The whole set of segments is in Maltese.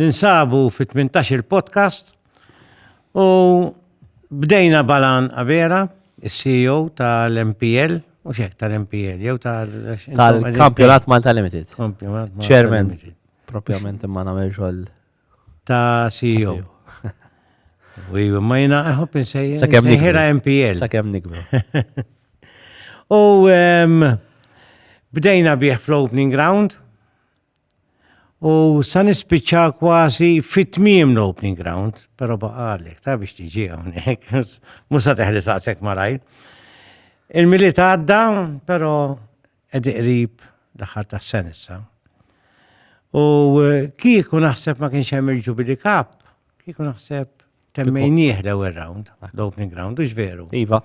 Ninsabu fi tmintax-il podcast u bdejna Balan Abela, is-CEO tal-MPL, mhux hekk tal-MPL, jew tal- Tal-Kampjonat Malta Limited. Kampjonat Malta Chairman. Limited. Propjament imma nagħmel xogħol. Ta' CEO. U iva, ma jina għahop insejja. Sakemm nikbru. Ħira MPL. Sakemm nikbru. U em, bdejna bih fl-opening ground, U sa nispiċċa kważi fit tmiem l-opening ground, però baqalek ta' biex tiġi hawnhekk, mhux sa teħli saqsek malajr. Il-miliet għadda, però qed qrib l-aħħar tas-sen issa. U eh, kieku naħseb ma kienx hemm il-Jubilee Cup, kieku naħseb temmejnieh l-ewwel round, l-opening round, ux veru. Iva.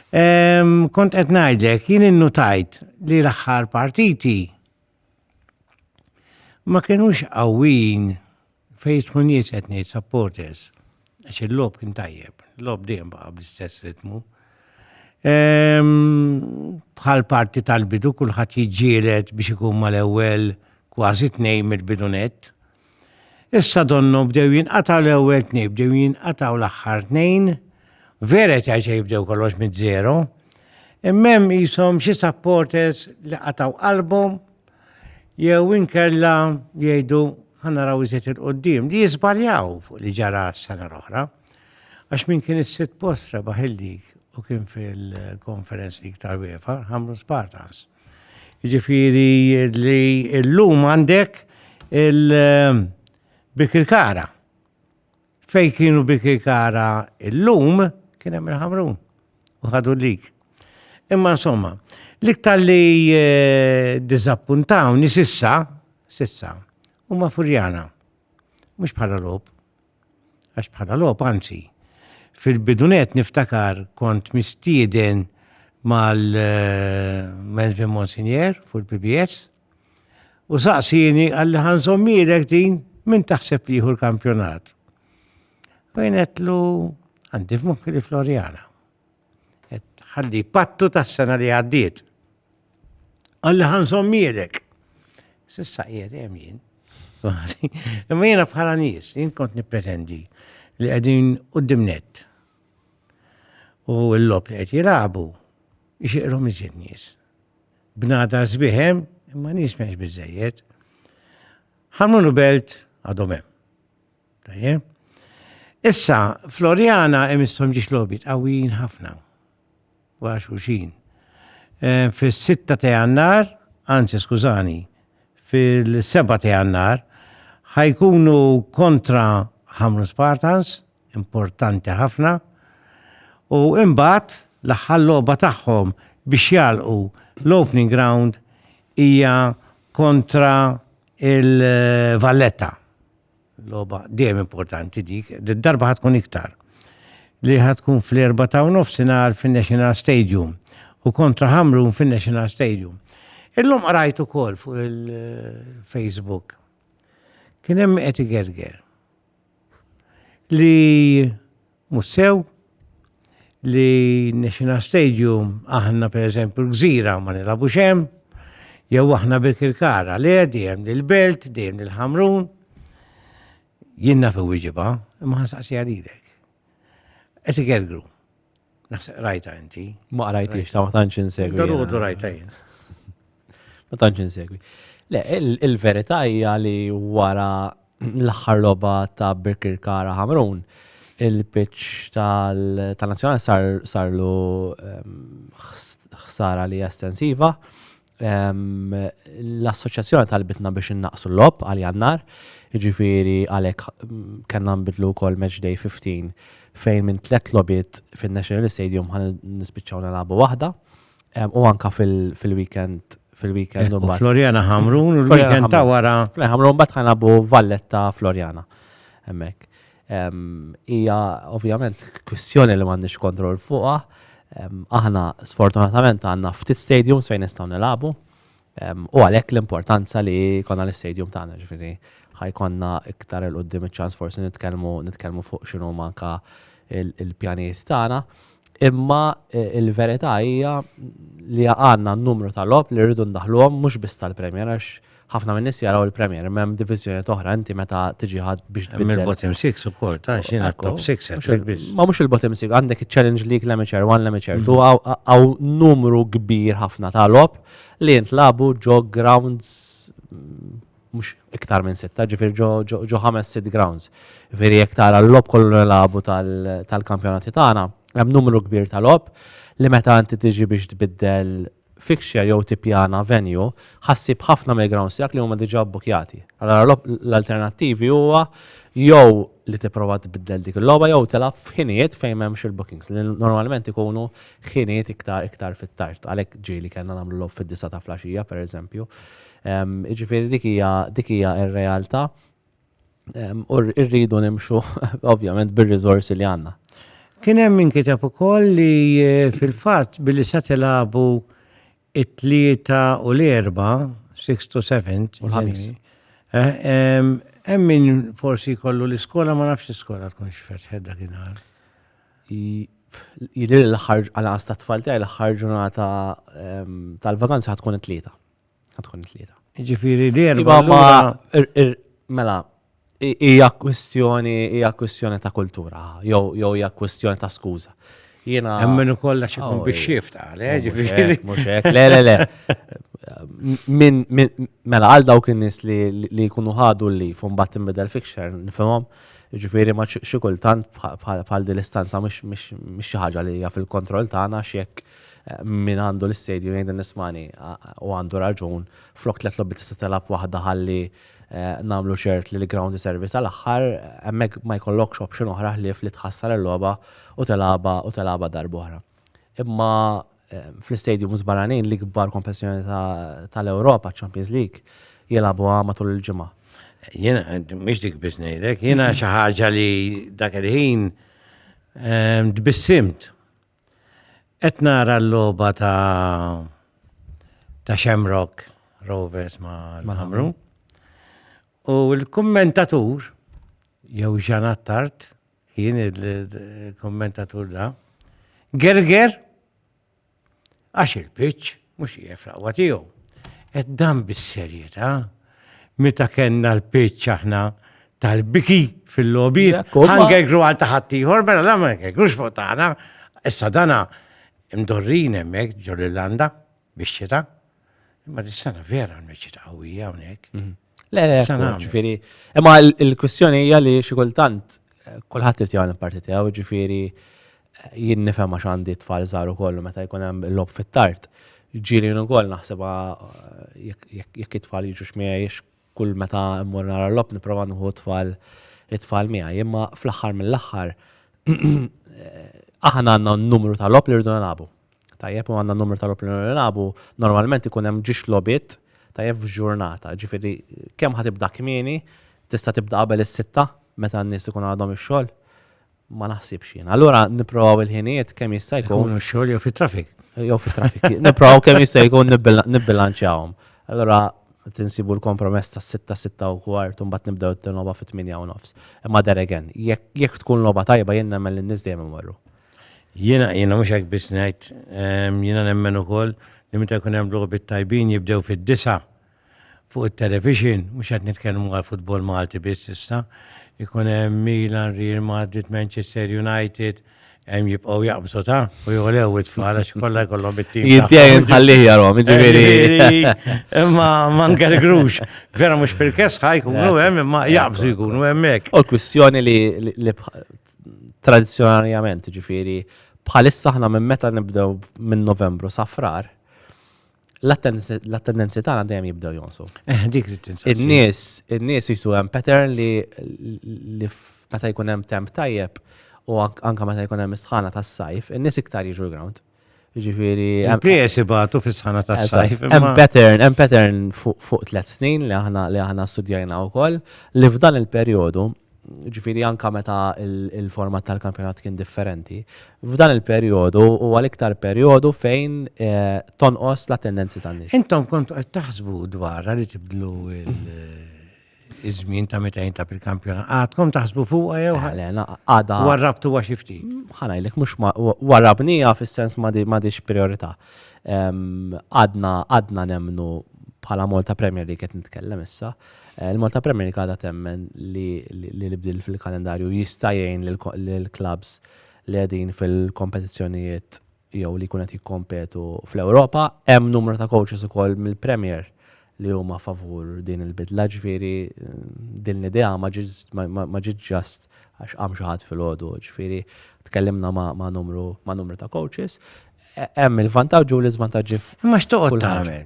Kont qed ngħidlek, jien innutajt li l-aħħar partiti Ma kienux qawwin fejn tkun nies qed ngħid supporters. Għax il-lob kien tajjeb, lob dejjem baqa' bl-istess ritmu. Ehm, bħal parti tal-bidu kulħadd jiġġielet biex ikun mal-ewwel kważi tnejn mill-bidunet. Issa donnu bdew jinqataw l-ewwel tnej, bdew jinqataw l-aħħar tnejn, vera qed jgħid jibdew kollox mid-zero. Immem jisom xi supporters li qataw qalbhom jew inkella jgħidu ħanaraw iżjed il-qoddim li jiżbaljaw fuq li ġara s-sena l-oħra. Għax min kien is-sitt post rebaħ il-lig u kien fil-Conference League tal-UEFA, ħamlu Spartans. Jiġifieri li llum għandek il-Birkirkara. Fejn kienu Birkirkara llum kien hemm il-Ħamrun u ħadu lik. Imma insomma, l-iktar li eh, diżappuntawni sissa, sissa, huma Furjana. Mhux bħala lob, Għax bħala logħob anzi. Fil-bidunet niftakar kont mistieden mal-Melvin Monsignor fuq il-PBS u saqsini għalli ħanżommilek din minn taħseb li jieħu l-kampjonat. U jenetlu għandi f'moħħi li Floriana. qed ħalli pattu tas-sena li għaddiet. Għalli ħanżommielek. Sissa qiegħed hemm jien. Imma jiena bħala nies, jien kont nippretendi li qegħdin qudiem net. U l-lob li qed jilagħbu jxiqrom iżjed nies. Bnada sbiħem, imma nies m'hemmx biżejjed. Ħarmunu belt għadhom hemm. Issa, Floriana imissom ġiex lobit qawwijin ħafna. Wara xulxin. Eh, Fis-6 ta' jannar, anzi skużani, fil-7 ta' jannar, ħajkunu kontra ħamru Spartans, importanti ħafna, u imbagħad l-aħħar logħba tagħhom biex jalqu l-opening ground hija kontra Il-Valletta, logħba dejjem importanti dik, darba ħatkun iktar li ħatkun fl-erba ta' nofsinhar fin-National Stadium u kontra Hamrun fin-National Stadium. Illum qrajt ukoll fuq il-Facebook. Kien hemm qed igerger li Mhux sew li National Stadium aħna pereżempju l-Gżira ma nilagħbux hemm, jew aħna Birkirkara le dejjem lill-Belt, dejjem lill-Ħamrun. Jien naf iwieġibha, imma ħansaqsiha lilek. Qed igergru. Naħseb rajta inti. Ma qrajtix ta' ma tantx insegwi. Darudu rajta jien. Ma tantx insegwi. Le, il-verità hija li wara l-aħħar logħba ta' Birkirkara Ħamrun, il-pitch tal-Nazzjonali sar sarlu ehm, ħsara li estensiva. Ehm, l-assoċjazzjoni tal-bitna biex innaqsu l-lob għal jannar, ġifiri għalek mm, kena nbidlu kol match day 15 fejn minn tlet lobit fin-National Stadium għan nispiċċaw nalabu wahda. U anka fil-weekend fil-weekend u Floriana Hamrun u l-weekend ta' wara. Hamrun bat ħanabu Valletta Floriana. Hemmhekk. Hija ovvjament kwistjoni li m'għandniex kontroll fuqha. Aħna sfortunatament għandna ftit stadiums fejn nistgħu nilagħbu u għalhekk l-importanza li jkollna l-istadium tagħna ġifieri ħajkonna iktar il-qudiem iċ-ċans forsi nitkellmu fuq x'inhuma anka il-pjanijiet tagħna. Imma l-verità hija li għandna numru ta' logħob li rridu ndaħħluhom mhux biss tal-Premier għax ħafna min-nies jaraw il-Premier imma hemm diviżjonijiet oħra inti meta tiġi għad biex tbiddel. Hemm il-bottom six ukoll ta' xi ngħid top six hekk biss. Ma mhux il-bottom six għandek iċ-Challenge League l-Amateur 1 l-Amateur 2 hawn numru kbir ħafna ta' logħob li jintlagħbu ġo grounds mhux iktar minn sitta, ġifieri ġo ħames sitt grounds. Ġifieri jekk tara l-logħob kollu li nilagħbu tal-kampjonati tagħna, hemm numru kbir ta' logħob li meta inti tiġi biex tbiddel fixture jew tippjana venue, ħa ssib ħafna mill-grounds tiegħek li huma diġà bbukjati. Allura l-alternattivi huwa jew li tipprova tbiddel dik il-logħba jew tilgħab f'ħinijiet fejn m'hemmx il-bookings, li normalment ikunu ħinijiet iktar fit-tard. Għalhekk ġieli kellna nagħmlu logħob fid-disgħa ta' flaxija, pereżempju, Jiġifieri dik hija dik hija r-realtà u rridu nimxu ovvjament bir-riżorsi li għandna. Kien hemm min kiteb ukoll li fil-fatt billi sa tilagħbu t-Tlieta u l-Erbgħa, sixth to seventh, u l-Ħamis. Hemm min forsi jkollu l-iskola ma nafx l-iskola tkunx fetħet dak in-nhar. Jidhirli l-aħħar għal-anqas tat-tfal tiegħi l-aħħar ġurnata tal-vaganza ħad tkun it-Tlieta. Għadkun tlieta. Ġifiri l-erba. Mela, hija kwistjoni, hija kwistjoni ta' kultura, jew hija kwistjoni ta' skuża. Jena. Emmen u kolla xikun oh, biex xift għale, eh, oh, ġifiri. Muxek, le, le, le. Min, mela, għal dawk in-nis li jkunu ħadu li fum bat imbedel fixer, nifimom, ġifiri ma xikultant bħal dil-istanza mux xaħġa li hija fil-kontroll tagħna xiek. Min għandu l-istadium jgħid li nismani u għandu raġun, flok tliet logħbiet tista' tilgħab waħda ħalli nagħmlu ċert li l-ground iservi sal-aħħar, hemmhekk ma jkollokx option oħra ħlief li tħassar il-logħba u tilgħabha u tilgħabha darb'oħra. Imma fl-istadiums barranin l-ikbar kompetizzjoni tal-Ewropa, ċ-Champions League, jilgħabuha matul il-ġimgħa. Jiena mhix dik biss ngħidlek, jiena xi ħaġa li dak il-ħin tbissimt. Qed nara l-logħba ta' ta' Shamrock Rovers ma' Ħamru. U l-kummentatur jew Jean Attard kien il-kummentatur da. Gerger għax il-pitch Mhux hija fraqwa tiegħu. Qed dan bis-serjetà. Meta kellna l-pitch aħna tal-biki fil-logħbiet, Hunger Grow għal ta' ħaddieħor, mela la ma jgħidux fuq tagħna. Issa dana mdorrin hemmhekk ġol Irlanda bix-xita. Imma dis-sena vera għandna xita qawwija hawnhekk. Le, le, ġifieri. Imma l-kwistjoni hija li xi kultant kulħadd irid jagħmel il-parti tiegħu, jiġifieri jien nifhem għax għandi tfal żgħar ukoll u meta jkun hemm lob fit-tard. Ġieli ukoll naħsibha jekk it-tfal jiġu xmiegħi kull meta mmur nara l-lob nipprova nieħu tfal it-tfal miegħi. Imma fl-aħħar mill-aħħar aħna għandna numru ta' lob li rridu nilagħbu. Tajjeb u għandna numru ta' logħob li nilagħbu, normalment ikun hemm ġiex logħbiet tajjeb f'ġurnata, jiġifieri kemm ħa tibda kmieni, tista' tibda qabel is-sitta meta n-nies ikun għadhom ix-xogħol? Ma naħsibx jiena. Allura nipprovaw il-ħinijiet kemm jista' jkun. Ikunu x-xogħol jew fit-traffic. Jew fit-traffic. Nipprovaw kemm jista' jkun nibbilanċjawhom. Allura tinsibu l-kompromess ta' sitta, sitta u kwart, mbagħad nibdew it-tieni logħba fit-tmienja u nofs. Imma there again, jekk tkun logħba tajba jien nemmen li n-nies dejjem imorru. Jiena, jiena mhux hekk biss ngħid, jiena nemmen ukoll li meta jkun hemm logħbiet tajbin jibdew fid-disgħa fuq it-televixin, mhux qed nitkellmu għall-futbol Malti biss issa, ikun hemm Milan, Real Madrid, Manchester United, hemm jibqgħu jaqbżu ta' u jogħlew it-tfal għax kollha jkollhom it-tim. Jintejn ħallih jarhom, jiġifieri. Imma ma ngergrux, vera mhux fil-kesħa jkunu hemm imma jaqbżu jkunu hemmhekk. U l-kwistjoni li tradizzjonarjament, ġifieri bħalissa aħna minn meta nibdew minn Novembru sa frar, l-attendenzi tagħna dejjem jibdew jonsu. Eh, dik li tinsa. In-nies, in-nies jisu hemm pattern li li meta jkun hemm temp tajjeb u anka meta jkun hemm isħana tas-sajf, in-nies iktar jiġu l-ground. Ġifiri. Il-pries ibatu fis-sħana ta' sajf. Hemm pattern, hemm pattern fuq tliet snin li aħna li aħna studjajna wkoll li f'dan il-perjodu ġifiri anka meta il-format tal-kampjonat kien differenti. F'dan il-perjodu u għal-iktar perjodu fejn eh, tonqos la tendenzi tan-nies. Intom kont qed taħsbu dwar li tibdlu iż-żmien ta' meta jintab il-kampjonat. Għadkom taħsbu fuqha jew għadha. Warrabtu għax ftit. Ħanajlek mhux warrabnija fis-sens ma dix priorità. Għadna għadna nemnu bħala Malta Premier League qed nitkellem issa. Eh, Il-Malta Premier League għadha temmen li l-ibdil fil-kalendarju jista' jgħin lill-klabs li qegħdin fil-kompetizzjonijiet jew li jkun qed jikkompetu fl-Ewropa. Hemm numru ta' coaches ukoll mill-Premier li huma favur din il-bidla, ġifieri din l-idea ma ġietx just għax qam xi ħadd filgħodu, ġifieri tkellimna ma' numru ta' coaches. Hemm il-vantaġġi u l-iżvantaġġi f'kull ħaġa. Imma x'toqgħod tagħmel?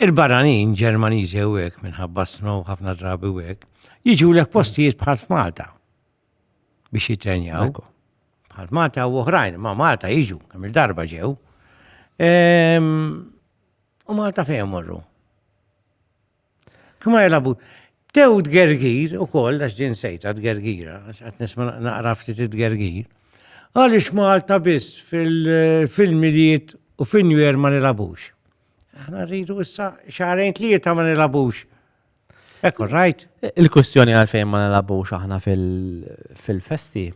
Il-barranin Ġermaniżi hawnhekk minħabba s-snow ħafna drabi u hekk, jiġulek postijiet bħal f'Malta. biex jitrenjaw. Bħal Malta u oħrajn, ma Malta jiġu, kemm il-darba ġew. Ehm, u Malta fejn morru. Kma jelabu, tew d-gergir u koll, għax din sejta d-gergira, għax għat nisma naqra ftit d-gergir. Għalix Malta biss fil-miliet u fil-nwer ma nilabux. Aħna rridu issa xarajn tlieta ma nilabux. Ekku, rajt. Il-kwistjoni għalfejn ma nilabux aħna fil-festi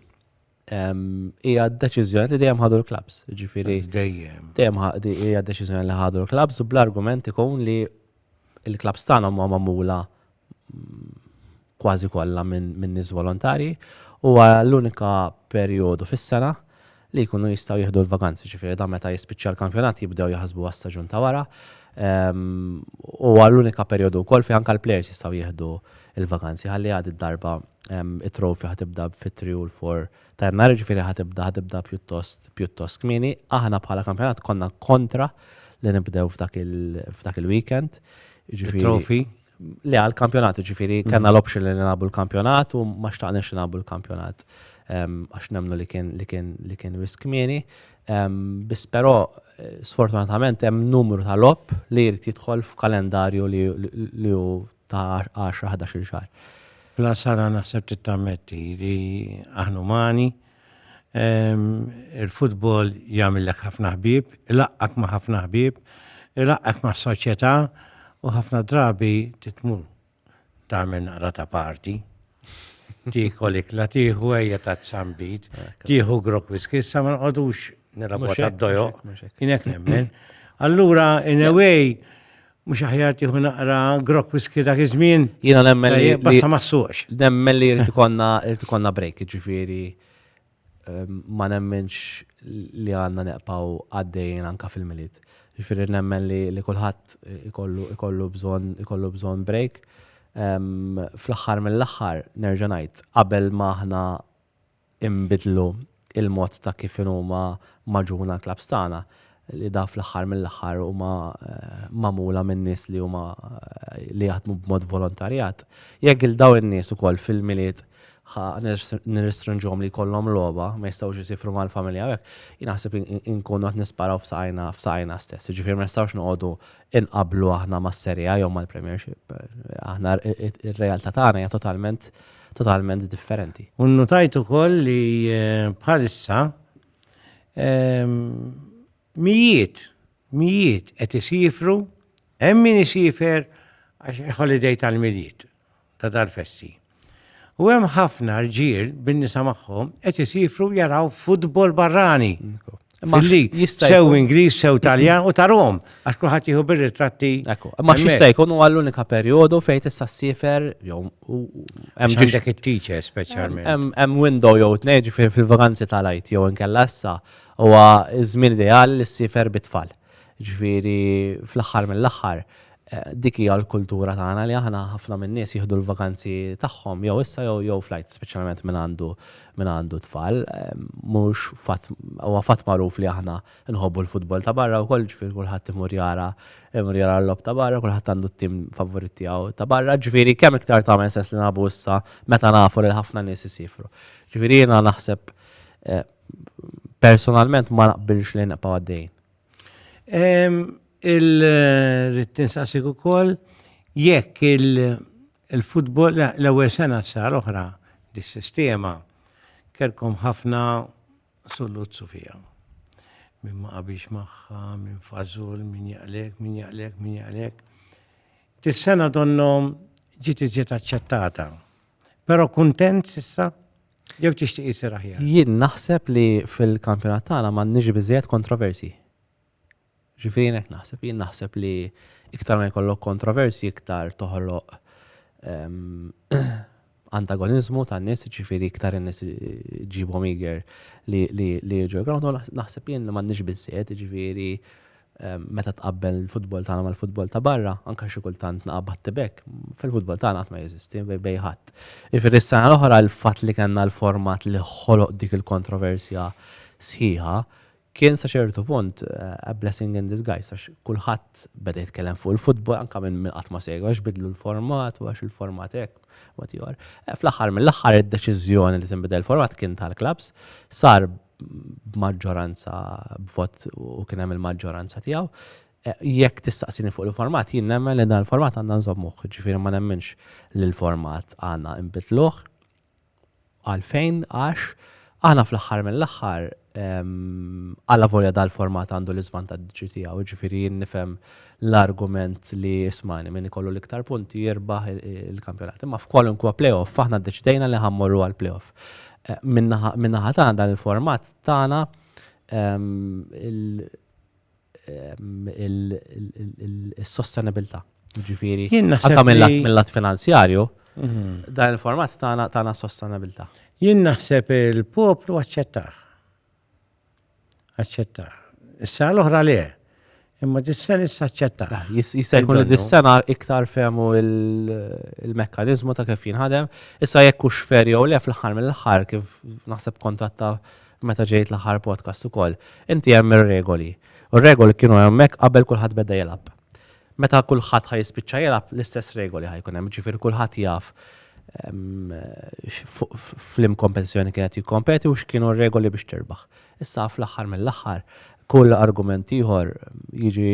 hija d-deċiżjoni li dejjem ħadu l-klabs. Ġifieri. Dejjem. Dejjem hija d-deċiżjoni li ħadu l-klabs u bl-argument ikun li l-klabs tagħna huma magħmula kważi kollha minn nies volontarji u l-unika perjodu fis-sena li jkunu jistgħu jieħdu l-vaganzi, ġifieri dan meta jispiċċa l-kampjonat jibdew jaħsbu għas-staġun ta' wara. Huwa l-unika perjodu wkoll fejn anke l-plejers jistgħu jieħdu l-vaganzi ħalli għad id-darba t-trophy ħa tibda fit-three u l-four ta' Jannar, jiġifieri ħa tibda ħa tibda pjuttost pjuttost kmieni. Aħna bħala kampjonat konna kontra li nibdew f'dak il-weekend, jiġifieri. It-trophy. Le, għal-kampjonat, ġifiri, mm. kena l-option li nabu l-kampjonat u ma xtaqnex li nabu l-kampjonat għax nemnu li kien li kien li kien risk mieni. Bis però eh, sfortunatament hemm numru ta' lop li jrid jidħol f'kalendarju li hu ta' 10-11 xahar. Fl-sara naħseb tittammetti li aħna umani, Il-futbol jagħmillek ħafna ħbieb, ilaqqak ma' ħafna ħbieb, ilaqqak ma' soċjetà u ħafna drabi titmu tagħmel naqra ta' parti. Tikol ikla tieħu ejja ta' tzambit, tieħu grok wiskissa ma nqogħdux nilagħbu ta' dojo, kien hekk nemmen. Allura in a way Mhux aħjar tieħu naqra grok whisky dak iż-żmien? Jiena nemmen li. Basta ma ssuqx. Nemmen li jrid ikollna jrid ikollna break, jiġifieri ehm, ma nemmenx li għandna neqpaw għaddejjin anka fil-milied. Jiġifieri nemmen li li kulħadd ikollu ikollu bżonn ikollu bżonn break. Ehm, fl-aħħar mill-aħħar nerġa' ngħid qabel ma aħna inbidlu l-mod ta' kif inhuma magħġuna l-klabbs tagħna, li dawn fl-aħħar mill-aħħar huma magħmula minn nies li huma li jaħdmu b'mod volontarjat. Jekk lil dawn in-nies ukoll fil-Milied ħa nirrestrinġuhom li jkollhom logħba, ma jistgħux isifru mal-familja u hekk, jien naħseb inkunu qed nisparaw f'saqajna f'saqajna stess. Jiġifieri ma nistgħux noqogħdu inqabblu aħna mas-Serie A jew mal-Premiership. Aħna r-realtà tagħna hija totalment totalment differenti. U nnutajt ukoll li eh, bħalissa ehm, mijiet, mijiet qed isifru, hemm min isifer għax holiday tal-miliet ta' tal-fessi. U hemm ħafna rġiel bin-nisa magħhom qed isifru jaraw futbol barrani. Billi sew Ingliż, sew Taljan u tarhom, għax kulħadd jieħu bir-ritratti. Ekku, ma xista jkun huwa l-unika perjodu fejn tista' ssifer jew hemm ġiġek it-teacher speċjalment. Hemm window jew tnejn ġifier fil-vakanzi tal-għid jew inkella issa huwa ż-żmien ideali li ssifer bit-tfal. Ġifieri fl-aħħar mill-aħħar dik hija l-kultura tagħna li aħna ħafna min-nies jieħdu l-vakanzi tagħhom jew issa jew jew fl-Għid speċjalment min għandu min għandu tfal. Mhux fatt huwa fatt magħruf li aħna nħobbu l-futbol ta' barra wkoll ġifieri kulħadd imur jara imur jara l-logħob ta' barra, kulħadd għandu t-tim favorit tiegħu ta' barra, ġifieri kemm iktar tagħmel sens li nilagħbu issa meta nafu li ħafna nies isiefru. Ġifieri jiena naħseb personalment ma naqbilx li nibqgħu għaddejjin. Il-rid tinsaqsik ukoll jekk il-futbol l-ewwel sena sar oħra dis-sistema kellkom ħafna sulluzzu fiha. Min ma qabilx magħha, min fażul, min jaqlek, min jaqlek, min jaqlek. Dis-sena donnhom ġiet iżjed aċċettata. Però kuntent s'issa? Jew tixtieq isir aħjar? Jien naħseb li fil-kampjonat tagħna m'għandniex biżżejjed kontroversji. Ġifieri jien hekk naħseb, jien naħseb li iktar ma jkollok kontroversji iktar toħloq ehm, antagonizmu ta' nis, ġifiri iktar nis ġibom iger li ġo ground, naħseb jien li mannix bizzed, ġifiri Meta tqabbel il-futbol tagħna mal-futbol ta' barra, anke xi kultant naqa' battibekk, fil-futbol tagħna qatt ma jeżisti bejn ħadd. Jiġifieri s-sena l-oħra l-fatt li kellna l-format li ħoloq dik il-kontroversja sħiħa kien sa ċertu punt a blessing in disguise għax kulħadd beda jitkellem fuq il-futbol anke minn min qatt ma segwa għax bidlu l-format u għax il-format hekk whatever. Fl-aħħar mill-aħħar id-deċiżjoni li tinbidel il-format kien tal-klabbs sar b'maġġoranza b'vot u kien hemm il-maġġoranza tiegħu. Jekk tistaqsini fuq il-format, jien nemmen li dan il-format għandna nżommuh, ġifieri ma nemminx li l-format għandna nbidluh. Għalfejn? Għax aħna fl-aħħar mill-aħħar, allavolja dal-format għandu l-iżvantaġġi tiegħu, ġifieri jien nifhem l-argument li smani min ikollu l-iktar punti jirbaħ il-kampjonat. Imma f'kwalunkwa playoff aħna ddeċidejna li ħammorru għal playoff. Min-naħa tagħna dan il-format tagħna il-sostenibilità. Ġifieri, anke mill-lat finanzjarju, dan il-format tagħna tagħna sostenibilità. Jien naħseb il-poplu aċċettah. Aċċetta. Is-sena l-oħra le. Imma dis-sena issa aċċetta. Ah, jista' jkun li dis-sena iktar fehmu il-mekkaniżmu ta' kif jinħadem. Issa jekk hux fer jew le fl-aħħar mill-aħħar kif naħseb kontatta meta ġejt l-aħħar podcast ukoll. Inti hemm ir-regoli. U r-regoli kienu hemmhekk qabel kulħadd beda jilgħab. Meta kulħadd ħa jispiċċa jilgħab l-istess regoli ħa jkun hemm, ġifieri kulħadd jaf flim kompetizzjoni kienet jikkompeti u x'kienu r-regoli biex tirbaħ. Issa fl-aħħar mill-aħħar kull argument ieħor jiġi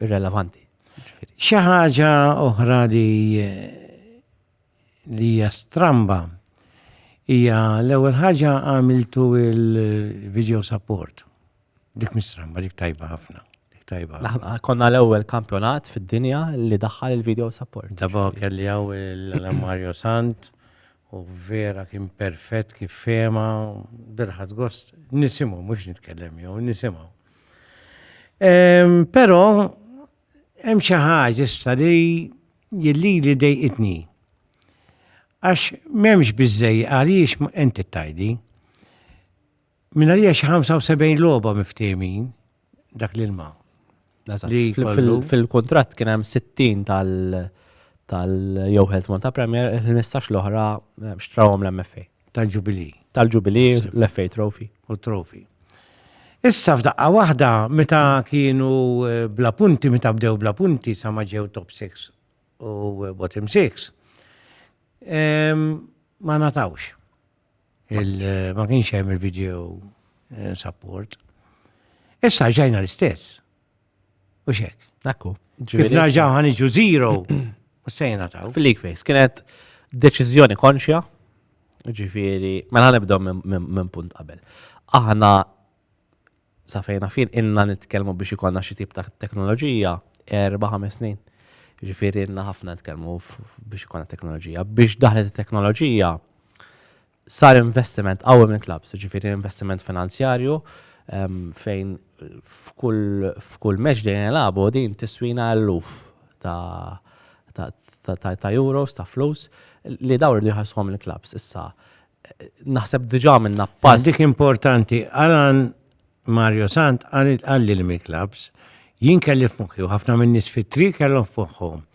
irrelevanti. Xi ħaġa oħra li li hija stramba hija l-ewwel ħaġa għamiltu il-video support. Dik mistramba, dik tajba ħafna. Ah, konna l-ewwel kampjonat fid-dinja li daħħal il-video support. Daba kelli għaw l-Mario Sant u vera kien perfett kif fema, dirħat gost, nisimu, mux nitkellem jew, nisimu. Pero, hemm xi ħaġa issa li jilli li dejqitni. Għax m'hemmx biżej għaliex inti tajdi. Minarija xi 75 logħba miftehmin dak l-ilma. Fil-kuntratt kien hemm 60 tal- tal-jew Health Malta Premier, il-15 l-oħra eh, xtrawhom l-MFA. Tal-ġubili. Tal-ġubili, l-FA Trophy. U trofi. Issa f'daqqa waħda meta kienu eh, bla punti, meta bdew bla punti sa ma ġew top 6 u eh, bottom 6, em, ma natawx. Il ma kienx hemm il-video eh, support. Issa ġajna l-istess. U xek. Ekku. Kif narġaw ħaniġu zero. U sejna taw. Fil-leak face, kienet deċizjoni konxja. Ġifiri, mela nibdaw minn punt qabel. Aħna Sa fejn naf jien ilna nitkellmu biex ikollna xi tip ta' teknoloġija erba' ħames snin. Jiġifieri ilna ħafna nitkellmu biex ikollna teknoloġija. Biex daħlet it-teknoloġija sar investiment qawwi mill-klabbs, jiġifieri investiment finanzjarju fejn f'kull match li nilagħbu din tiswina eluf ta' ta' euros ta' flus li dawn iridu jħallsuhom il-klabbs. Issa naħseb diġà minna pass. Dik importanti, Alan Mario Sant għalli l-Mil Clubs, jien kelli f'moħħi u ħafna minn nies fit-tri kellhom f'moħħhom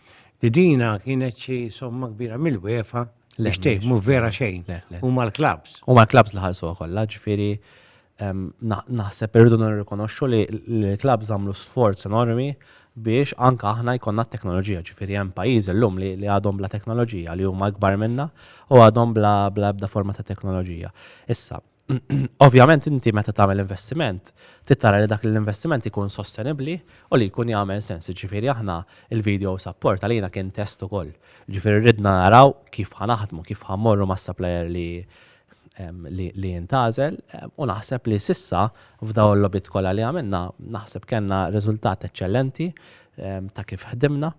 li dina kienet xi somma kbira mill-wefa li xtejmu vera xejn. U mal-clubs. U mal-clubs li ħalsu kollha, ġifieri Naħseb irridu nirrikonoxxu li l-clubs għamlu sforz enormi biex anke aħna jkollna t-teknoloġija, ġifieri hemm pajjiżi llum li għadhom bla teknoloġija, li huma ikbar minna u għadhom bla ebda forma ta' teknoloġija. Issa, Ovvjament inti meta tagħmel investiment, tittara li dak l-investiment ikun sostenibbli u li jkun jagħmel sens. Ġifieri aħna il-video support għalina kien test ukoll. Ġifieri ridna naraw kif ħanaħdmu, kif ħammorru mas-supplier li li intgħażel u naħseb li s'issa f'dawn il-logħbiet kollha li għamilna naħseb kellna riżultat eċċellenti ta' kif ħdimna.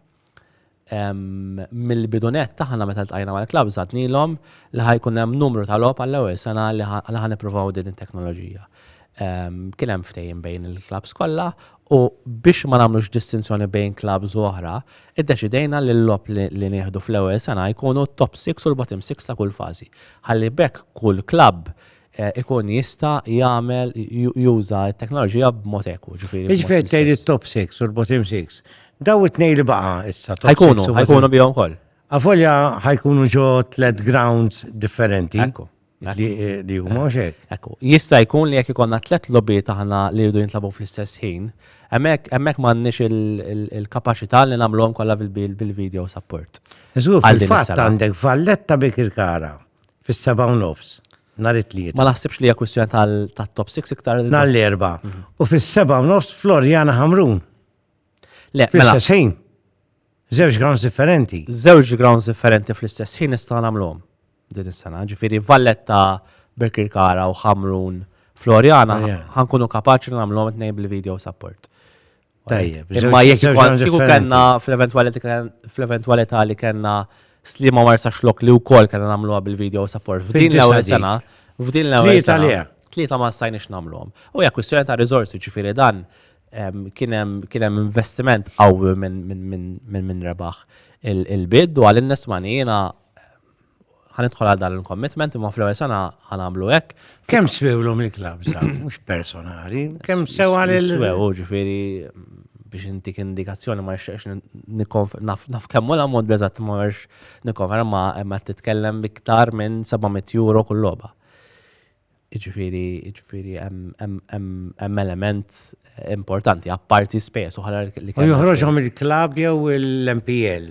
Mill-bidu nett aħna meta ltqajna mal-klabbs għadnilhom li ħa jkun hemm numru ta' logħob għall-ewwel sena li ħa nippruvaw din it-teknoloġija. Kien hemm ftehim bejn il-klabbs kollha U biex ma nagħmlux distinzjoni bejn klabbs u oħra, iddeċidejna li l-logħob li nieħdu fl-ewwel sena jkunu t-top six u l-bottom six ta' kull fażi, ħalli b'hekk kull klabb ikun jista' jagħmel, juża t-teknoloġija b'mod ekwu, ġifieri b'mod. Jiġifieri qed tgħid it-top six u l-bottom six, dawn it-tnejn li baqa' issa, top six u bottom. Ħajkunu, ħajkunu bihom ukoll. Avolja ħajkunu ġo tliet grounds differenti. Ekku. Li huma mhux hekk. Ekku, jista' jkun li jekk ikollna tliet logħbiet aħna li jridu jintlagħbu fl-istess ħin, hemmhekk hemmhekk m'għandniex il-kapaċità li nagħmluhom kollha bil-video support. Żgur, fil-fatt għandek Valletta Birkirkara fis-sebgħa u nofs nhar it-Tlieta. Ma naħsibx li hija kwistjoni tat-top 6 iktar. Nhar l-Erbgħa. U fis-sebgħa u nofs Floriana Ħamrun. Le, fl-istess ħin. Żewġ grounds differenti. Żewġ grounds differenti fl-istess ħin nistgħu nagħmluhom din is-sena. Ġifieri Valletta Birkirkara u Ħamrun Floriana ħankunu kapaċi li nagħmluhom tnejn bil-video support. Tajjeb. Imma jekk kieku kellna fl-eventwalità li kellna slima marsa xlok li wkoll kellna nagħmluha bil-video support. F'din l-ewwel sena, f'din l-ewwel sena. Tlieta ma stajniex nagħmluhom. U hija kwistjoni ta' riżorsi ġifieri dan kien hemm investiment qawwi minn rebaħ il-bid u għal innes mani jiena ħanidħol għal dan il-commitment imma fl-ewwel sena ħanamlu hekk. Kemm swewlu mill-klabb mhux personali, kemm sew għal il Swew, ġifieri biex intik indikazzjoni ma nixtieqx nikkonf naf kemm hu l-ammont beżatt ma nix nikkonferma imma titkellem iktar minn 700 euro kull logħba. Jiġifieri, jiġifieri hemm hemm hemm hemm element importanti apparti spejjeż oħra li U kellna. joħroġhom il-klabb jew l-MPL.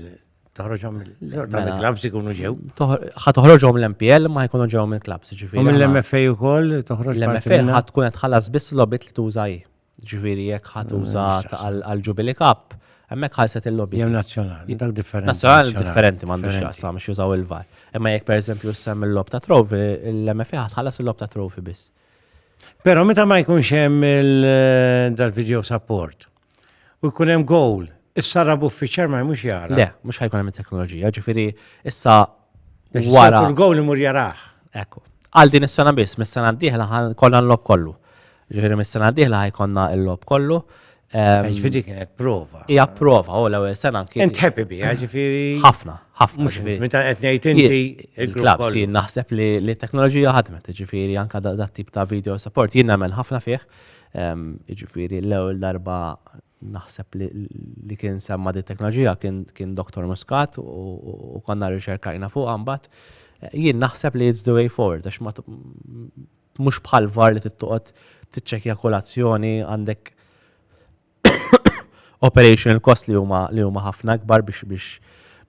Toħroġhom il- Mela- dan il-klabbs ikunu ġew. Toħ- Ħa toħroġhom l-MPL ma jkunu ġew mill-klabbs, U jiġifieri. aħna- mill-MFA wkoll toħroġ parti L-MFA minnha? ħa tkun qed tħallas biss logħbiet li tuża hi. Jiġifieri jekk ħa tuża għall-Jubilee Cup, hemmhekk ħalset il-logħbiet. Jew nazzjonali, dak differenti. Nazzjonali differenti m'għandux x'jaqsam biex jużaw il-VAR. Imma jekk pereżempju issemm il-logħob ta' trophy, l-MFA ħa tħallas il-logħob ta' trophy biss. Però meta ma jkunx hemm dal-video support u jkun hemm goal, is-sarab uffiċjal ma jmux jara. Le, mhux ħajkun hemm it-teknoloġija, ġifieri issa wara. Il-goal imur jarah. Ekku. Għal din is-sena biss, mis-sena d-dieħla kollha nlogħob kollu. Jiġifieri mis-sena d-dieħla ħa jkollna l-logħob kollu. Jiġifieri dik kienet prova. Hija prova, u l-ewwel sena anki. Int happy biha, jiġifieri. Ħafna, ħafna. Mhux int, meta qed ngħid inti l-klabb. Jien naħseb li t-teknoloġija ħadmet, jiġifieri anke dat-tip ta' video support jien nemmen ħafna fih. Jiġifieri l-ewwel darba naħseb li kien semma' din it-teknoloġija kien Dottor Muscat u konna rriċerkajna fuqha mbagħad. Jien naħseb li it's the way forward għax Mhux bħal var li trid toqgħod tiċċekkja kull azzjoni, għandek operational cost li huma li huma ħafna akbar biex biex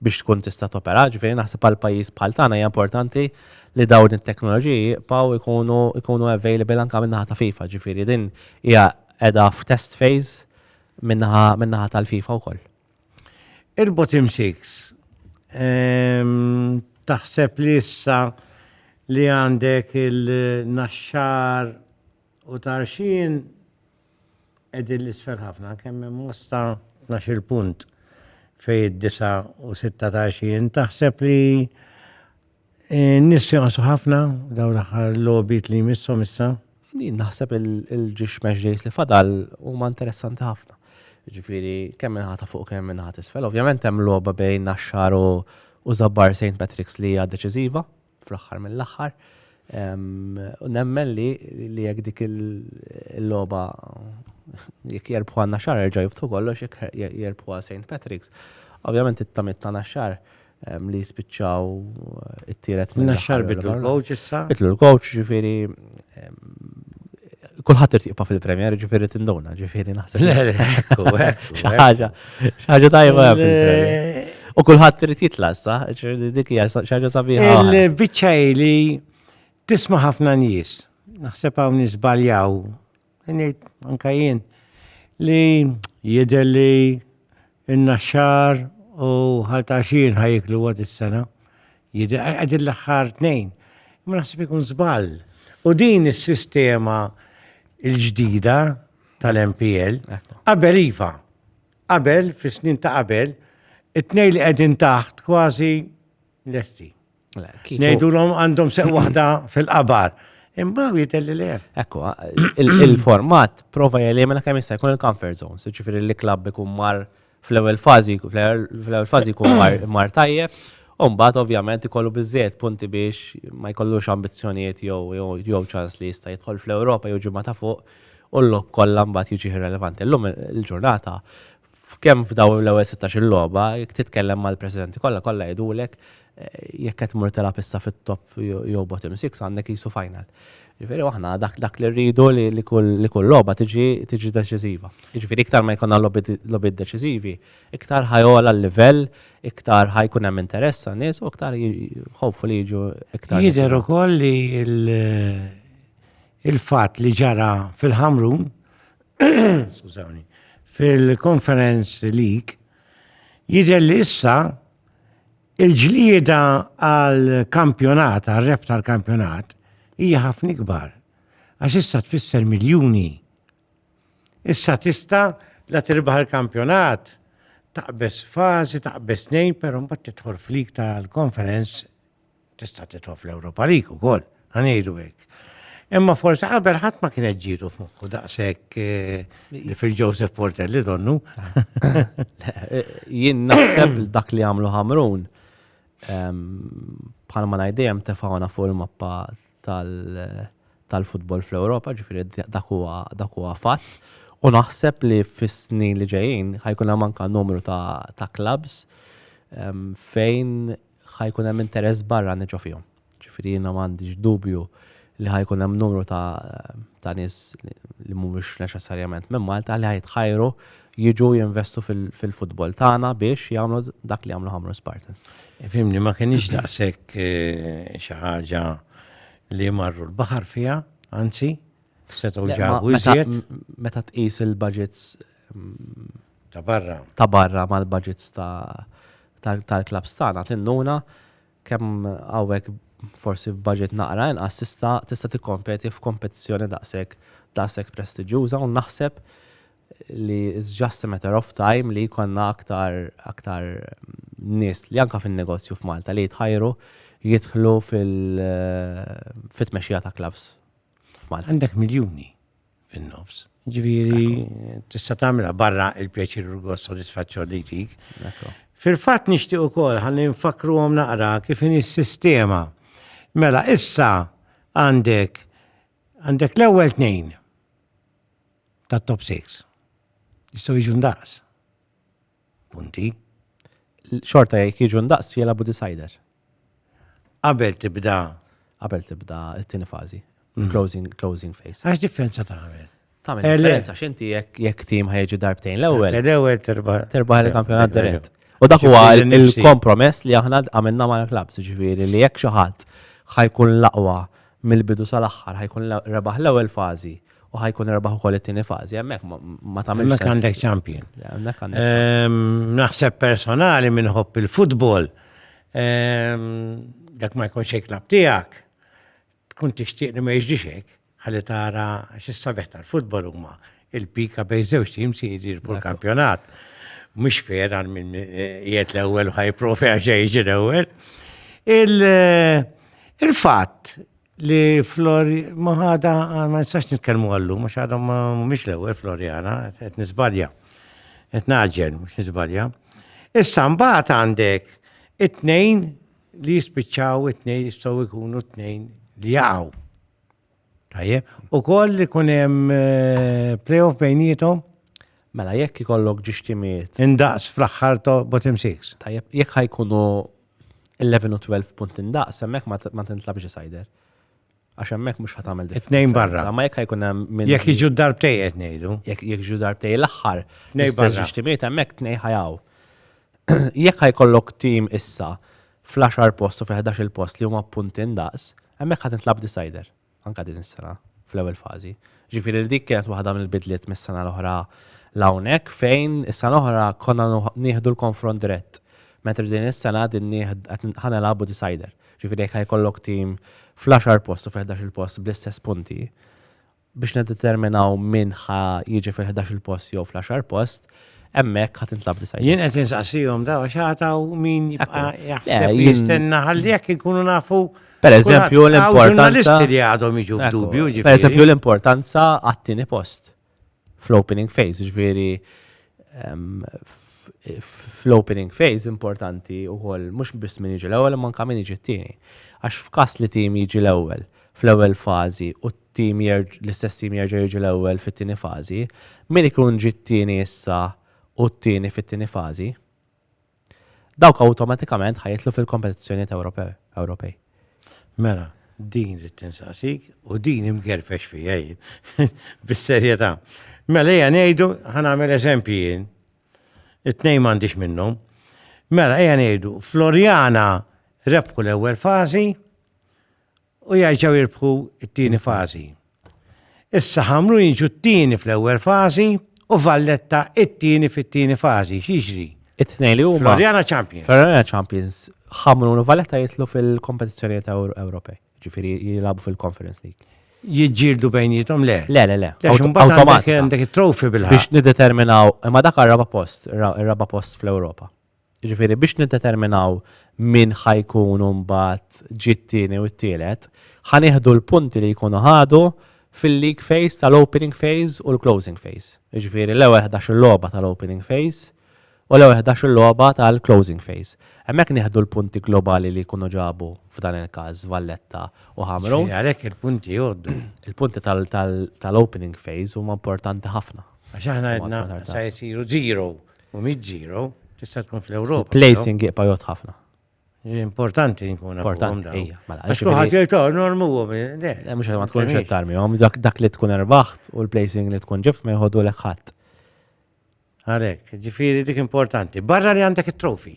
biex tkun tista' topera. Ġifieri naħseb għal pajjiż bħal tagħna hija importanti li dawn it-teknoloġiji jibqgħu jkunu jkunu available anke min-naħa ta' FIFA. Ġifieri din hija qiegħda f'test phase min-naħa min-naħa tal-FIFA wkoll. Irbot imsik. Taħseb li issa li għandek il-naxxar u tarxin edin l-isfel ħafna, kemm hemm mosta 12 punt fej id-disa u sitta tarxin, taħseb li Nis jonqsu ħafna daw l-aħħar logħbiet li jmissom issa. Jien naħseb il-ġiex match days li fadal huma interessanti ħafna. Ġifieri kemm minn ħata fuq kemm minn ħata isfel. Ovvjament hemm logħba bejn Naxxar u Żabbar St. Patrick's li hija deċiżiva fl-aħħar mill-aħħar. U nemmen li jekk dik il-logħba jekk jerbħu għan Naxxar erġa' jiftu kollox jekk jerbħu għal St. Patrick's. Ovvjament it-tamiet ta' Naxxar li jispiċċaw it-tielet minn. Naxxar bitlu l-coach issa. Bitlu l-coach ġifiri. Kulħadd irid jibqa' fil-Premier ġifiri tinduna ġifiri naħseb. Xaħġa, xaħġa tajba fil-Premier. U kulħadd irid jitla issa, dik hija xaħġa sabiħa. Il-biċċa li tisma' ħafna nies. Naħseb hawn nisbaljaw Ngħid anke jien li jidher li n-Naxxar u Ħalt Għaxien ħa jieklu għad is-sena. Jidher qegħdin l-aħħar tnejn. Imma naħseb ikun żball. U din is-sistema l-ġdida tal-MPL, qabel iva, qabel fis-snin ta' qabel, it-tnejn li qegħdin taħt kważi lesti. Ngħidulhom għandhom seq waħda fil-qabar. Imma jitelli le. Ekku, il-format prova jelimina kemm jista' jkun il-comfort zones, ġifieri li klabb ikun mar fl-ewwel fażi, fl-ewwel fażi jkun mar tajjeb, u mbagħad ovvjament ikollu biżżejjed punti biex ma jkollux ambizzjonijiet jew ċans li jista' jidħol fl-Ewropa jew ġimgħa ta' fuq u l-logħob kollha mbagħad jiġi irrelevanti. Illum il-ġurnata F'kemm f'dawn l-ewwel sittax-il logħba, jekk titkellem mal-presidenti kollha, kollha jgħidulek jekk qed tmur tilgħab issa fit-top jew bottom six għandek qisu final. Jiġifieri u aħna dak li rridu li kull logħba tiġi deċiżiva. Jiġifieri iktar ma jkollna logħbiet deċiżivi, iktar ħa jogħla l-livell, iktar ħa jkun hemm interess għan-nies u iktar hopefully jiġu iktar nies. Jidher ukoll li l-fatt li ġara fil-Ħamrun skużawni, fil-konferenz lik, jidher li issa il-ġlieda għal kampjonat, għal rep tal-kampjonat, hija ħafna ikbar. Għax issa tfisser miljuni. Issa tista la tirbaħ il-kampjonat, taqbes fazi, taqbes nejn, pero mbagħad tidħol flik tal-konferenz Tista' titfa' fl-Ewropa League ukoll, ħa ngħidu hekk. Imma forsi qabel ħadd ma kienet ġietu f'moħħu daqshekk eh, li fil-Joseph Portelli donnu. Jien naħseb li dak li għamlu Ħamrun ehm, bħal ma ngħidejjem tefawna fuq il-mappa tal- tal-futbol fl-Ewropa, ġifieri dak huwa dak huwa fatt. U naħseb li fis-snin li ġejjin ħajkun hemm anke numru ta' ta' clubs ehm, fejn ħa jkun hemm interess barrani ġo fihom. Ġifieri jiena m'għandix dubju li ħa jkun hemm numru ta' ta' nies li mhumiex neċessarjament minn Malta li ħa jitħajru jiġu jinvestu fil-futbol tagħna biex jagħmlu dak li jagħmlu Ħamrun Spartans. Fimni ma kienx daqshekk eh, xi ħaġa li marru l-baħar fiha, anzi, setgħu ġabu iżjed. Meta tqis il-budgets mm, Ta' barra. Ta' barra mal-budgets tal-clubs tagħna tinnuna kemm hawnhekk forsi f'budget naqra inqas tista' tista' tikkompeti f'kompetizzjoni daqshekk daqshekk prestiġjuża u naħseb li it's just a matter of time li jkollna aktar aktar nies li anke fin-negozju f'Malta li jitħajru jidħlu fil fit-tmexxija ta' clubs f'Malta. Għandek miljuni. fin-nofs. Ġifieri tista' tagħmilha barra il-pjaċir u l-gost sodisfazzjon li jtik. Fil-fatt nixtieq ukoll ħalli nfakkruhom naqra kif inhi s-sistema. Mela issa għandek għandek l-ewwel tnejn tat-top 6. Jistgħu jiġu ndaqs. Punti. Xorta jekk jiġu ndaqs jilagħbu decider. Qabel tibda. Qabel tibda t-tieni fażi. Closing, closing phase. Għax differenza tagħmel. Tagħmel eh, differenza x'inti jekk jekk tim ħejġu darbtejn l-ewwel. L-ewwel terba. Terba il-kampjonat dirett. U dak huwa il-kompromess li aħna għamilna mal-klabs, ġifieri li jekk xi ħadd ħajkun l-aqwa mill-bidu sal-aħħar ħa jkun rebaħ l-ewwel fażi u ħa jkun rebaħ ukoll it-tieni fażi, hemmhekk ma tagħmilx. Hemmhekk għandek champion. Ehm, naħseb personali minn ħobb il-futbol, ehm, dak ma jkunx hekk lab tiegħek, tkun tixtieq li ma jiġrix hekk, ħalli tara x'issa beħ tal-futbol huma Il-pika bejn żewġ tim se jiġi fuq kampjonat. Mhux fair għal min eh, qiegħed l-ewwel u ħajprofi għax jiġi l-ewwel. Il-fatt li Flor maħada ma nistax nitkellmu għallu, ma xadhom mhumiex l-ewwel Floriana, qed nisbalja. Qed naġġel mhux nisbalja. Issa mbagħad għandek it-tnejn li jispiċċaw it-tnejn jistgħu jkunu t-tnejn li jaqgħu. Tajjeb, ukoll li kun hemm playoff bejnietom. Mela jekk ikollok ġiex timiet. Indaqs fl-aħħar ta' bottom 6. Tajjeb, jekk ħajkunu 11 u 12 punt indaqs, hemmhekk ma tintlabx decider. Għax hemmhekk mhux ħadd għamel differenza. Tnejn barra. Ma jekk ħajkun hemm min. Jekk jiġu darbtej qed ngħidu. Jekk jiġu darbtej l-aħħar. Tnejn barra. Ġiex timiet hemmhekk tnejn ħajaw. Jekk ħajkollok tim issa fl-għaxar post u fil-ħdax-il post li huma punti indaqs, hemmhekk ħa tintlagħab decider, anke din is-sena, fl-ewwel fażi. Jiġifieri li dik kienet waħda mill-bidliet mis-sena l-oħra 'l hawnhekk fejn is-sena l-oħra konna nieħdu l-konfront dirett, mentri din is-sena qegħdin nieħdu ħa nilagħbu decider. Jiġifieri jekk ħa jkollok tim fl-għaxar post u fil-ħdax-il post bl-istess punti, Biex niddeterminaw min ħa jiġi fil-ħdax-il post jew fl-għaxar post, hemmhekk ħa tintlagħab disa' jiem. Jien qed insaqsihom daw għax għad hawn min jibqa' jaħseb li jistenna ħalli jekk inkunu nafu Pereżempju l-importanza li għadhom jiġu f'dubju. Pereżempju l-importanza għat-tieni post fl-opening phase, ġifieri fl-opening phase importanti u għol mux biss min iġi l-ewel, man kamin iġi t-tini. Għax f'kas li tim iġi l-ewel, fl-ewwel fażi u t-tim jerġ l-istess tim jerġa' jiġi l-ewwel fit-tieni fażi, min ikun ġie t-tieni issa hu t-tieni fit-tieni fażi, dawk awtomatikament ħa jidħlu fil-kompetizzjonijiet Ewrope Ewropej. Mela, din ridt insaqsik u din imgerfex fija jien, bis-serjetà. Mela ejja ngħidu, ħa nagħmel eżempji jien, it-tnejn m'għandix minnhom. Mela ejja ngħidu, Floriana rebħu l-ewwel fażi, u jerġgħu jirbħu t-tieni fażi. Issa ħamru jiġu t-tieni fl-ewwel fażi u Valletta it-tieni fit-tieni fażi. Xiġri? It-tnejn li huma. Floriana Champions. Floriana Champions ħamru u Valletta jitlu fil-kompetizzjonijiet Ewropej. Ġifieri jilagħbu fil-Conference League. Jiġġieldu bejnietom le. Le, le, le. Għandek it-trofi bil-ħin. Biex nideterminaw, imma dak għar-raba post, ir-raba post fl-Ewropa. Jiġifieri biex niddeterminaw min ħa jkun mbagħad ġie t-tieni u t-tielet, ħa nieħdu l-punti li jkunu ħadu fil-league phase tal-opening phase u l-closing phase. Jiġifieri l-ewwel ħdax-il logħba tal-opening phase u l-ewwel ħdax-il logħba tal-closing phase. Hemmhekk nieħdu l-punti globali li jkunu ġabu f'dan il-każ Valletta u Ħamrun. Ġifieri għalhekk il-punti jgħoddu. Il-punti tal-opening phase huma importanti ħafna. Għax aħna għedna sa jsiru zero U mhix zero, tista' tkun fl-Ewropa. Placing jibqa' jgħodd ħafna. Importanti nkun nafuhom dawn. Ija, mela. Għax kulħadd jgħid oh, normuhom. Le, mhux ma tkunx qed tarmihom, dak li tkun erbaħt u l-placing li tkun ġibt ma jħoddu lek ħadd. Għalhekk, ġifieri dik importanti. Barra li għandek it-trofi.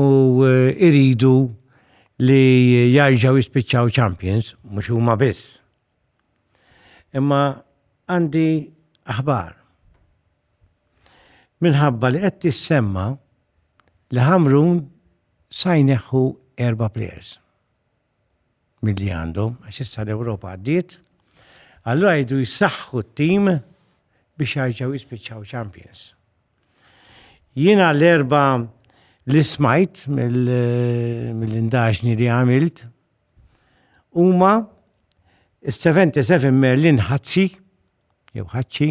u jridu li jarġaw jispiċċaw champions, mhux huma biss. Imma għandi aħbar. Minħabba li qed tissemma li Ħamrun sajneħħu erba' players. milli għandhom, għax issa l-Ewropa għaddiet, allura jridu jsaħħu t-tim biex jarġgħu jispiċċaw champions. Jiena l-erba li smajt mill-indaġni li għamilt huma 77 Merlin Ħazzi, jew Ħaċċi,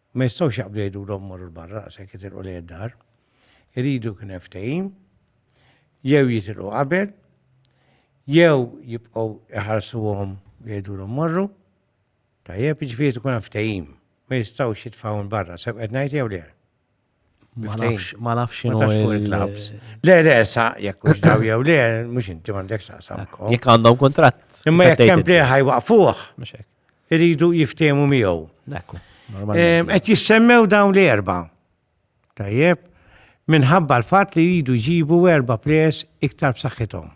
Ma jistgħux jaqblu jgħidulhom morru 'l barra daqshekk jitilqu lejn id-dar. Iridu jkun hemm ftehim, jew jitilqu qabel, jew jibqgħu jħarsuhom u jgħidulhom morru. Tajjeb, jiġifieri jrid ikun hemm ftehim. Ma jistgħux jitfgħuhom 'l barra, sew qed ngħid jew le? Ma nafx, ma nafx xinu. Ma nafx il-klabs. Le, le, sa, jekk mux daw jew le, mux inti mandek sa, sa. Jekk għandhom kontrat. Imma jekk kem plejħa ħajwaqfuħ. Iridu jiftemu miegħu. Ekku. Qed jissemmew dawn li erba. Tajjeb, minħabba l-fatt li jridu jġibu erba pres iktar b'saħħithom.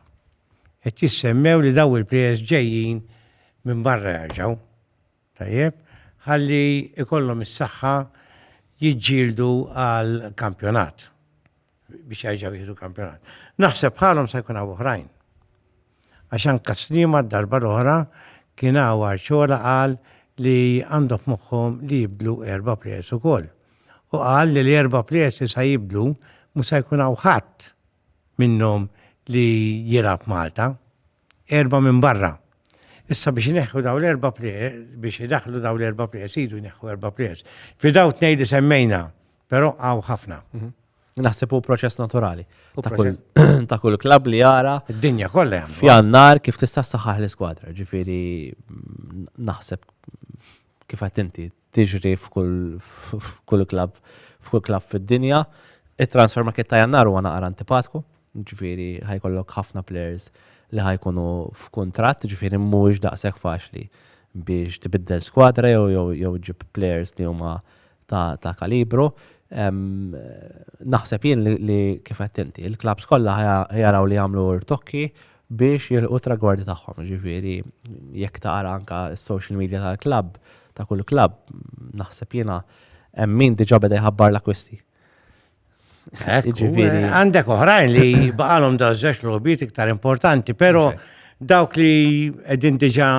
Qed jissemmew li daw il-pres ġejjin minn barra jarġaw. Tajjeb, ħalli jkollhom is-saħħa jiġġieldu għal kampjonat, biex jerġgħu jieħdu kampjonat. Naħseb bħalhom se jkun hawn oħrajn. Għax anke Sliema d-darba l-oħra kien hawn Arciola qal li għandhom f'moħħhom li jibdlu erba' plejers ukoll. U qal li l-erba' plejers li se jibdlu mhux se jkun hawn ħadd minnhom li jilgħab Malta. Erbgħa minn barra. Issa biex ineħħu dawn l-erba' biex idaħħlu dawn l-erba' players, iridu jneħħu erba' players. Fi dawn tnejn li semmejna, però hawn ħafna. Naħseb hu proċess naturali ta' kull klabb li jara. Id-dinja kollha. F'jannar kif tista' saħħaħ l-iskwadra, ġifieri naħseb kif qed inti tiġri f'kull klabb f'kull klabb fid-dinja. It-transfer market ta' Jannar huwa naqra antipatku, jiġifieri ħa jkollok ħafna players li ħa jkunu f'kuntratt, jiġifieri mhuwiex daqshekk faċli biex tibiddel skwadra jew ġġib players li huma ta' kalibru. Naħseb jien li kif għedt inti, il-klabbs kollha ħa jaraw li jagħmlu rtokki biex jilħqu t-tragwardi tagħhom. Jiġifieri jekk taqra anke s-social media tal-klabb, ta' kull klabb, naħseb jiena, hemm min diġà beda jħabbar l-akkwisti. Għandek oħrajn li baqalhom dawn żewġ logħbiet iktar importanti, però dawk li qegħdin diġà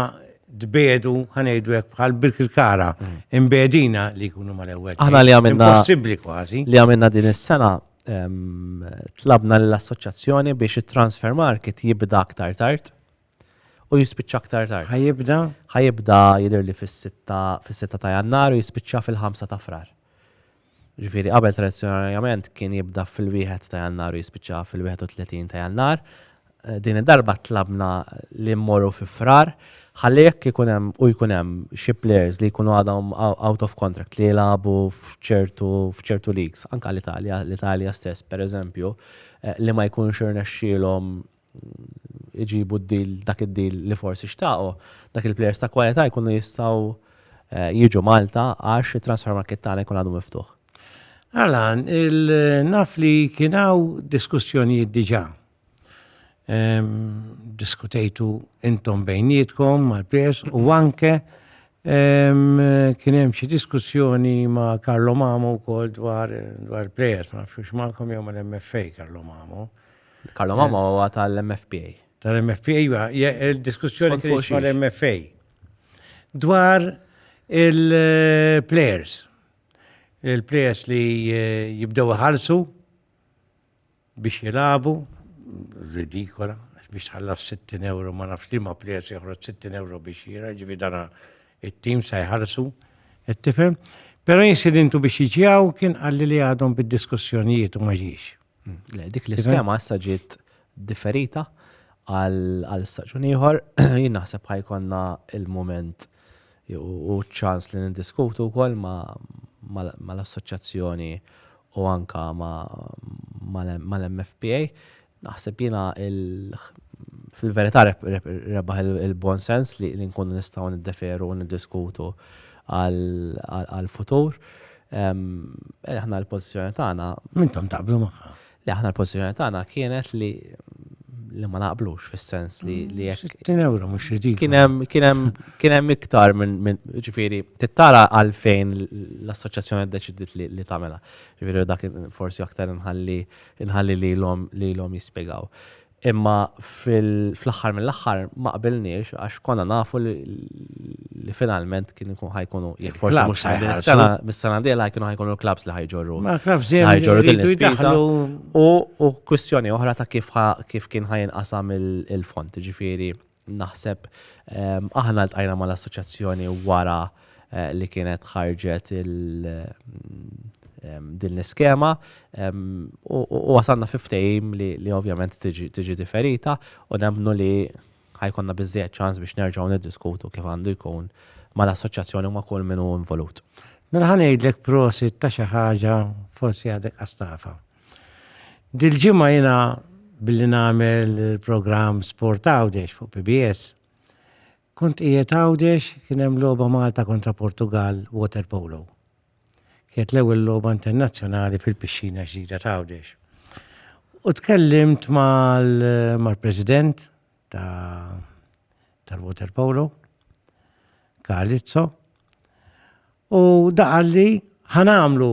tbedu ħanejdu hekk bħal bil-kara imbedina li jkunu mal-ewwel. Aħna li għamilna possibbli kważi. Li għamilna din is-sena Tlabna lill-Assoċjazzjoni biex it-Transfer Market jibda aktar tard u jispiċċa aktar tard. Ħa jibda? Ħa jibda jidher li fis-sitta ta' Jannar u jispiċċa fil-ħamsa ta' Frar. Ġifieri qabel tradizzjonarjament kien jibda fil-wieħed ta' Jannar u jispiċċa fil-31 ta' Jannar. Din id-darba tlabna li mmorru fi Frar ħalli jekk ikun hemm u jkun hemm xi plejers li jkunu għadhom out of contract li jilagħbu f'ċertu f'ċertu leagues, anke l-Italja, l-Italja stess pereżempju, li ma jkunx irnexxielhom iġibu d-deal dak id-deal li forsi xtaqu, dak il-plejers ta' kwalità jkunu jistgħu jiġu Malta għax it-transfer market tagħna jkun għadu miftuħ. Alan, naf li kien hawn diskussjonijiet diġà diskutejtu intom bejnietkom mal-PS u anke kien hemm xi diskussjoni ma' Karlo Mamo wkoll dwar dwar players, ma nafx magħkom jew mal-MFA Karlo Mamo. Karlo Mamo huwa tal-MFPA. Tal-MFPA iva, il-diskussjoni kien mal-MFA. Dwar il-players. Il-players li jibdew iħallsu biex jilagħbu, ridikola, għax biex tħallas 60 euro ma nafx li ma plejers joħroġ 60 euro biex jira, ġifi dana it-tim sa jħarsu, qed tifhem. Però insidentu biex jiġjaw kien qalli li għadhom bid-diskussjonijiet u ma ġiex. Le, dik l-iskema issa ġiet differita għal staġun ieħor, jien naħseb ħajkonna il-moment Hu ċ-ċans li niddiskutu wkoll mal-Assoċjazzjoni u anke mal-MFPA. Naħseb jiena fil-verità rebaħ il-buon sens li nkunu nistgħu niddeferu u niddiskutu għall-futur. Aħna l-pożizzjoni tagħna. Intom taqblu magħha. Le aħna l-pożizzjoni tagħna kienet li li ma naqblux fis-sens li li jekk. 60 euro mhux ridikolu. Kien hemm kien hemm kien hemm iktar minn minn ġifieri tittara għalfejn l-assoċjazzjoni ddeċidiet li li tagħmilha. Ġifieri dak forsi aktar inħalli inħalli lilhom lilhom jispjegaw. Imma fl-aħħar mill-aħħar ma qbilniex għax konna nafu li finalment kien ikun ħa jkunu jekk forsi mhux sa din is-sena, mis-sena d-dieħla kienu ħa jkunu l-klabbs li ħa jġorru. Ma klabbs dejjem ħa jġorru din l-ispiża. U kwistjoni oħra ta' kif kien ħa jinqasam il-fond, jiġifieri Naħseb aħna ltqajna mal-assoċjazzjoni wara li kienet ħarġet din l-iskema u wasalna fi ftehim li ovvjament tiġi diferita u nemmnu li ħajkonna biżżejjed ċans biex nerġgħu niddiskutu kif għandu jkun mal-assoċjazzjoni u ma' kull min hu involut. Mela ħa ngħidlek prosit ta' xi ħaġa forsi għadek qastafa. Dil-ġimgħa jiena billi nagħmel il-programm Sport Għawdex fuq PBS, kont qiegħed Għawdex kien hemm logħba Malta kontra Portugal water polo. Kienet l-ewwel logħba internazzjonali fil-pixxina ġdida ta' Għawdex. U tkellimt mal-President tal-water polo, Kalizzo, u daqalli ħanamlu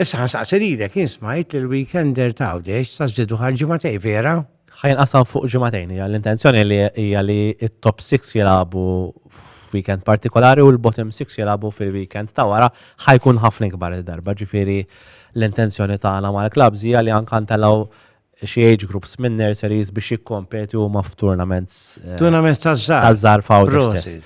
Issa ħansaqsi lilek, jien smajt li l-weekender ta' Għawdex sa żdiedu għal ġimagħtejn, vera? Ħa jinqasam fuq ġimagħtejn, hija l-intenzjoni li hija li t-top six jilagħbu f'weekend partikolari u l-bottom six jilagħbu fil-weekend ta' wara, ħa jkun ħafna ikbar il-darba, ġifieri l-intenzjoni tagħna mal-klabbs hija li anke ntellgħu xi age groups minn nurseries biex jikkompetu huma f'tournaments. Eh, tournaments ta' żgħar. Ta' żgħar f'Awdix.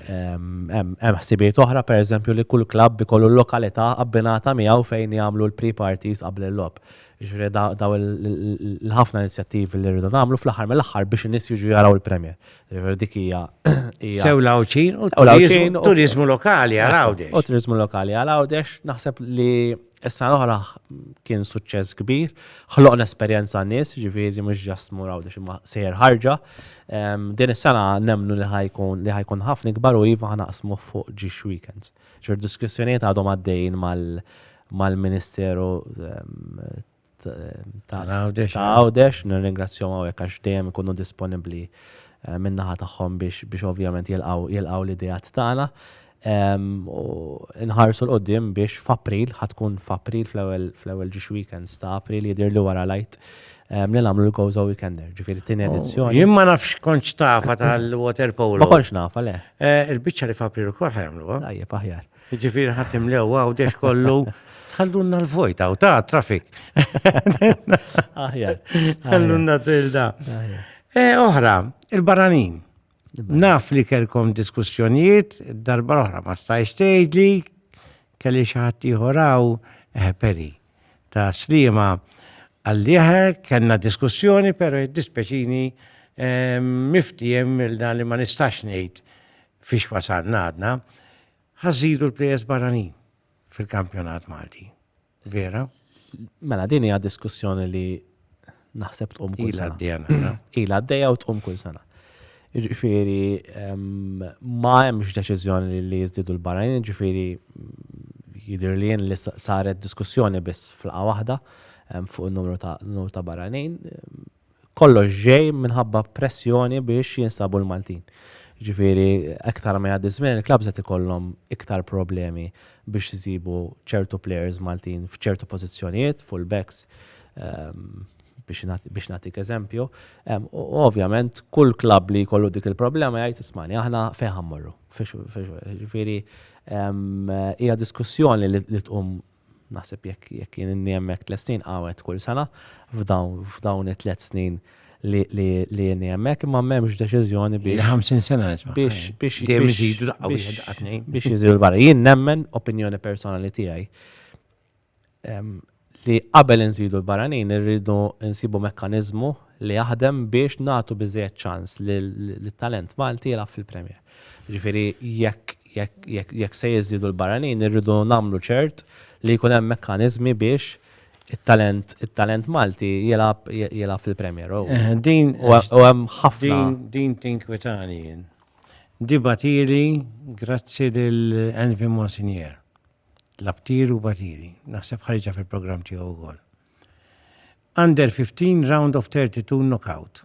Hemm ħsibiet oħra pereżempju li kull klabb ikollu l-lokalità abbinata miegħu fejn jagħmlu l-pre-parties qabel il-lob. Ġifieri daw l-ħafna inizjattivi li rridu nagħmlu fl-aħħar mill-aħħar biex in-nies jiġu jaraw il-Premier. Ġifieri dik hija Sew l-Awċin u turizmu lokali għal Għawdex. U turizmu lokali għal Għawdex naħseb li Is-sena l-oħra kien suċċess kbir, ħloqna esperjenza għan-nies, ġifieri mhux ġast mur Għawdex imma sejjer ħarġa. Ehm, din is-sena nemmnu li ħajkun li ħajkun ħafna ikbar u iva ħanaqsmu fuq ġiex weekends. Ġifier diskussjonijiet għadhom għaddejjin mal-Ministeru ehm, ta' Għawdex, nirringrazzjom għawek għax dejjem ikunu disponibli eh, minnaħa tagħhom biex ovvjament jilqaw l-idejat tagħna. Nħarsu l-qoddim biex f'April, ħatkun f'April fl-ewwel ġiex weekends ta' April jidir li wara lajt li nagħmlu l-Gozo Weekender, ġifieri t-tieni oh, edizzjoni. Jien ma nafx konċ tafa tal-water polo. Ma konċ nafa le. Eh, il-biċċa li f'April ukoll ħajamluha. Tajjeb aħjar. Jiġifieri ħa timlew Għawdex kollu tħallunna l-vojt hawn ta' traffic. Aħjar. Tħallunna tilda. Eh, oħra, il-baranin. Naf li kelkom diskussjonijiet, darba l-oħra ma stajx tgħidli kelli xi ħadd ieħor eh, peri ta' slima għalliħe kellna diskussjoni, pero dispeċini eh, miftijem il-dan li ma nistax ngħid Fiex wasalna għadna? Ħa żżidu l-plejers barranin fil-kampjonat Malti. Vera? Mela din hija diskussjoni li naħseb tqum kull sena. Ila għaddejja. Ila għaddejja u tqum kull sena. Ġifieri ma hemmx deċiżjoni li jiżdiedu l-barranin, ġifieri jidher li jien li saret diskussjoni biss flaqa waħda fuq in-numru ta' barranin. kollox ġej minħabba pressjoni biex jinstabu l-Maltin. Jiġifieri aktar ma jgħaddi ż-żmien il-klabbs qed ikollhom iktar problemi biex isibu ċertu plejers Maltin f'ċertu pożizzjonijiet, full-backs biex nagħtik eżempju. U ovvjament kull klabb li jkollu dik il-problema jgħid ismagħni aħna fejn ħa mmorru. Jiġifieri hija diskussjoni li tqum naħseb jekk jekk jien inni hemmhekk tliet snin qawwed kull sena f'dawn f'dawn it-tliet snin li li li inni hemmhekk imma m'hemmx deċiżjoni biex. Il-50 sena nisma'. Biex biex dejjem iżidu daqqa wieħed daqqa tnejn. Biex jiżidu l-barra. Jien nemmen opinjoni personali tiegħi li qabel inżidu l-barranin irridu nsibu mekkaniżmu li jaħdem biex nagħtu biżżejjed ċans lit-talent Malti jilgħab fil-Premier. Jiġifieri jekk se jiżdiedu l-barranin irridu nagħmlu ċert li jkun hemm mekkaniżmi biex it-talent Malti jilgħab fil-Premier. U hemm ħafna. Din tinkwetani jien. Di bagħtili grazzi lil Envy Monsignor. Tlabtili u bagħtili. Naħseb ħariġha fil-programm tiegħu wkoll. Under 15 round of 32 knockout.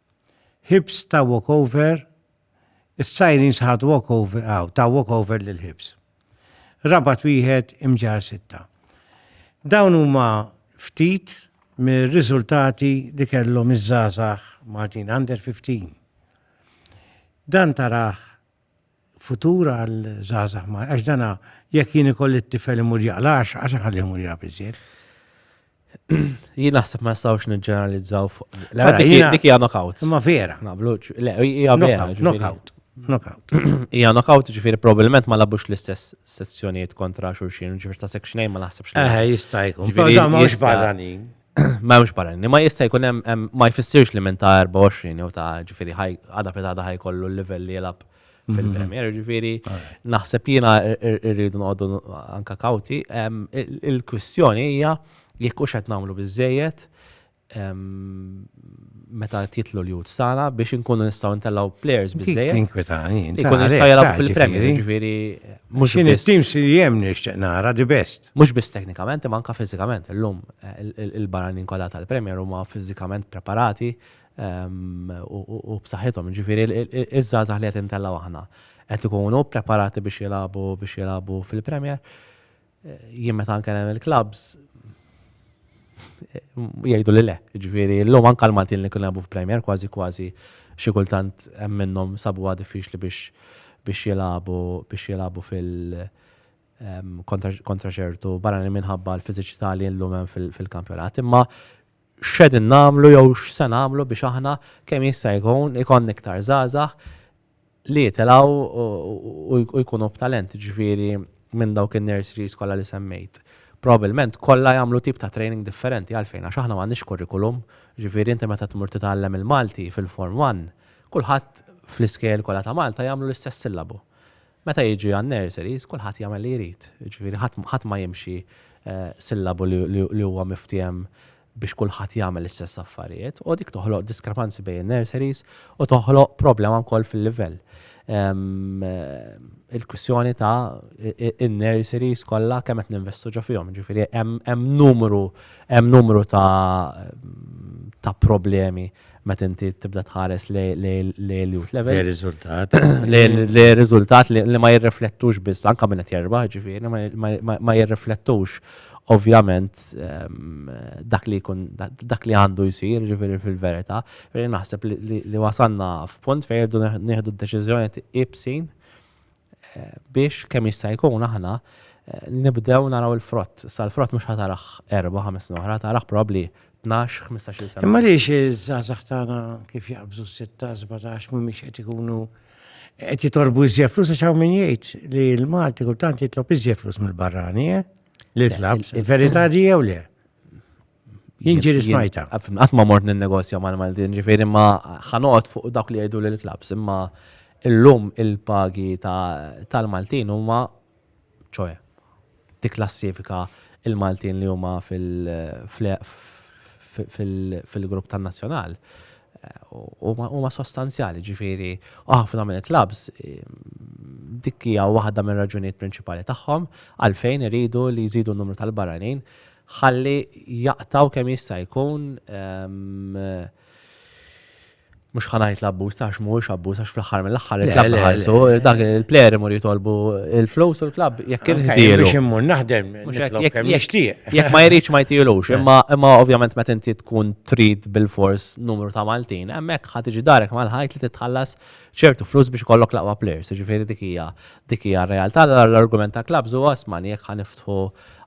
Hibs ta walkover Is-Sirens ħadu walkover aw, taw walkover lil Hibs. Rabat wieħed imġarr sitta. Dawn huma ftit mir-riżultati li kellhom iż-żgħażagħ Maltin under 15. Dan tarah futur għal żgħażagħ ma għax dana jekk jien ikolli t-tifel imur jaqlax għax ħalli imur jaqla biżjed. Jien naħseb ma nistgħux niġġeneralizzaw fuq. Mela, dik hija knockout. Ma vera. Naqblu, le, hija vera. Knockout. Knockout. Ija knockout ġifiri probabilment ma labux l-istess sezzjonijiet kontra xurxin, ġifiri ta' section ma naħsebx. Eh, jistajku. Ġifiri ma barranin. Ma hemmx barranin. Imma jista' jkun hemm ma jfissirx li minn ta' 24 jew ta' ġifieri għada pitada ħajkollu l-livell li jilgħab fil-Premier. Ġifieri naħseb jiena rridu noqogħdu anke kawti. Il-kwistjoni hija jekk hux qed nagħmlu biżżejjed meta qed jitlu l-youths tagħna biex inkunu nistgħu ntellgħu players biżżejjed. Tinkwita jien. Ikun jista' jilgħab fil-Premier, ġifieri mhux. X'in it-teams li hemm nixtieq nara the best. Mhux biss teknikament imma anke fiżikament. Illum il-barranin kollha tal-Premier huma fiżikament preparati u b'saħħithom. Jiġifieri ż-żgħażagħ li qed intellgħu aħna qed ikunu preparati biex jilagħbu biex jilagħbu fil-Premier. Jien meta nkellem il-klabbs jgħiduli le. Jiġifieri llum anke l-Maltin li kienu jilagħbu f'Premier kważi kważi xi kultant hemm minnhom sabuha diffiċli biex biex jilagħbu biex jilagħbu fil kontra ċertu barranin minħabba l-fiżiċità li llum hemm fil-kampjonat. Imma x'qegħdin nagħmlu jew x'se nagħmlu biex aħna kemm jista' jkun ikollna iktar żgħażagħ li jitilgħu u jkunu b'talent, jiġifieri minn dawk in-nurseries kollha li semmejt. Probabbilment kollha jagħmlu tip ta' training differenti għalfejn għax aħna m'għandniex curriculum, jiġifieri inti meta tmur titgħallem il-Malti fil-Form One, kulħadd fl-iskejjel kollha ta' Malta jagħmlu l-istess sillabu. Meta jiġi għan-nurseries, kulħadd jagħmel li jrid. Jiġifieri ħadd ħadd ma jimxi sillabu li li li huwa miftiehem biex kulħadd jagħmel l-istess affarijiet, u dik toħloq diskrepanzi bejn in-nurseries u toħloq problema wkoll fil-livell. Il-kwistjoni ta' in-nurseries kollha kemm qed ninvestu ġo fihom, jiġifieri hemm hemm numru hemm numru ta' ta' problemi meta inti tibda tħares lej l-youth level. Lej riżultat. Lej riżultat li ma jirriflettux biss, anka minn qed jerbaħ ġifieri, ma jirriflettux ovvjament ehm, dak li jkun dak li għandu jsir ġifieri fil-verità, naħseb li wasanna f'punt fejn irdu nieħdu d-deċiżjoni ibsin biex kemm jista' jkun aħna nibdew naraw il-frott. Sa l-frott mhux ħatarah erba' ħames snin oħra, tarah probabbli tnax, ħmistax-il sena. Imma għaliex iż-żgħażagħ tagħna kif jaqbżu s-sitta, sbatax mhumiex qed ikunu qed jitolbu iżjed flus għax hawn min jgħid li l-Malti kultant jitlob iżjed flus mill-barrani, eh? Li tlab, il-verità di jew le? Jien ġiri smajta. Qatt ma mort nin-negozja mal-Maltin, ġifieri ma ħanoqgħod fuq dawk li jgħidu lil klaps, imma illum il-pagi tal-Maltin huma ċoe tikklassifika il-Maltin li huma fil-grupp tan-nazzjonal huma sostanzjali, ġifieri ħafna minn klaps dik hija waħda mir-raġunijiet prinċipali tagħhom għalfejn iridu li jżidu n-numru tal-barranin Ħalli jaqtgħu kemm jista' jkun mhux ħa ngħid l-abbuż ta' għax mhuwiex abbuż għax fl-aħħar mill-aħħar il-klabb ħarsu dak il-plejer imur jitolbu il-flus u l-klabb jekk inħdielu. Biex immur naħdem kemm jixtieq. Jekk ma jridx ma jtilux, imma ovvjament meta inti tkun trid bil-fors numru ta' Maltin, hemmhekk ħa tiġi darek mal-ħajt li titħallas ċertu flus biex ikollok l-aqwa plejers, jiġifieri dik hija dik hija r-realtà. L-argument ta' clubs huwa isma' jekk ħa niftħu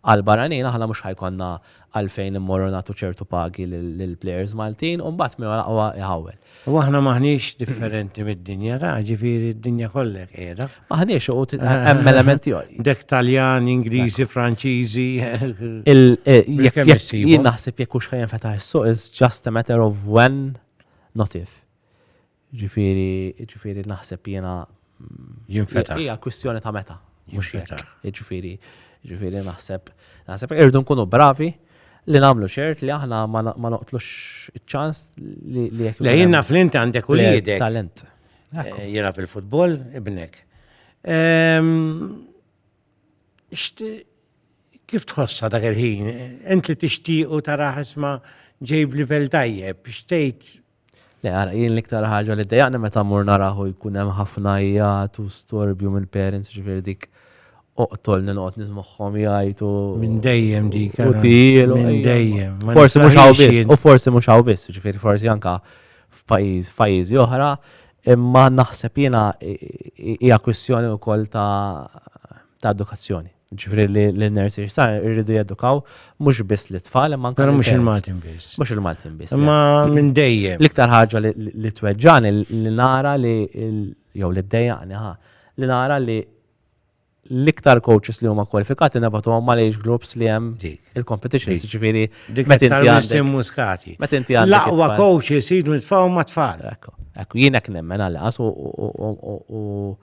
għal barranin aħna mhux ħa jkollna għalfejn immorru nagħtu ċertu pagi lill-plejers Maltin u mbagħad min hu l-aqwa iħawwel. U aħna m'aħniex differenti mid-dinja ta' jiġifieri d-dinja kollha hekk qiegħda. M'aħniex u hemm element ieħor. Dek Taljan, Ingliżi, Franċiżi. Jien naħseb jekk hux ħa jinfetaħ is-suq is just a matter of when not if. Jiġifieri, jiġifieri naħseb jiena. Jinfetaħ. Hija kwistjoni ta' meta, mhux jekk. Jinfetaħ. Jiġifieri, jiġifieri naħseb, naħseb irridu nkunu bravi li nagħmlu ċert li aħna ma ma noqtlux iċ-ċans li li jekk. Le jien naf li inti għandek uliedek. Talent. Jilgħab il-futbol ibnek. Kif tħossha dak il-ħin? Int li tixtiequ taraħ isma' ġej b'livell tajjeb, x'tgħid Le, ara, jien l-iktar ħaġa li ddejjaqni meta mmur narah u jkun hemm ħafna għijat u storbju mill-parents, jiġifieri dik oqtolni noqgħod nismagħhom jgħajtu. Minn dejjem dik, ara. U tiegħilu. Minn dejjem. Forsi mhux hawn biss, u forsi mhux hawn biss, jiġifieri forsi anke f'pajjiż, f'pajjiżi oħra, imma naħseb jiena hija kwistjoni wkoll ta' edukazzjoni. Ġifri li l-nursery sar irridu jedukaw mhux biss li tfal imma anke. Mhux il-Maltin biss. Mhux il-Maltin biss. Imma minn dejjem. L-iktar ħaġa li tweġġani li nara li jew li ddejjaqni ħa li nara li l-iktar coaches li huma kwalifikati nebatu għom mal age groups li hemm il-competition, ġifiri. Meta inti għandek. muskati. Meta inti għandek. L-aqwa coaches jidu nitfaw ma tfal. Ekku, ekku, jien hekk nemmen għal-qas u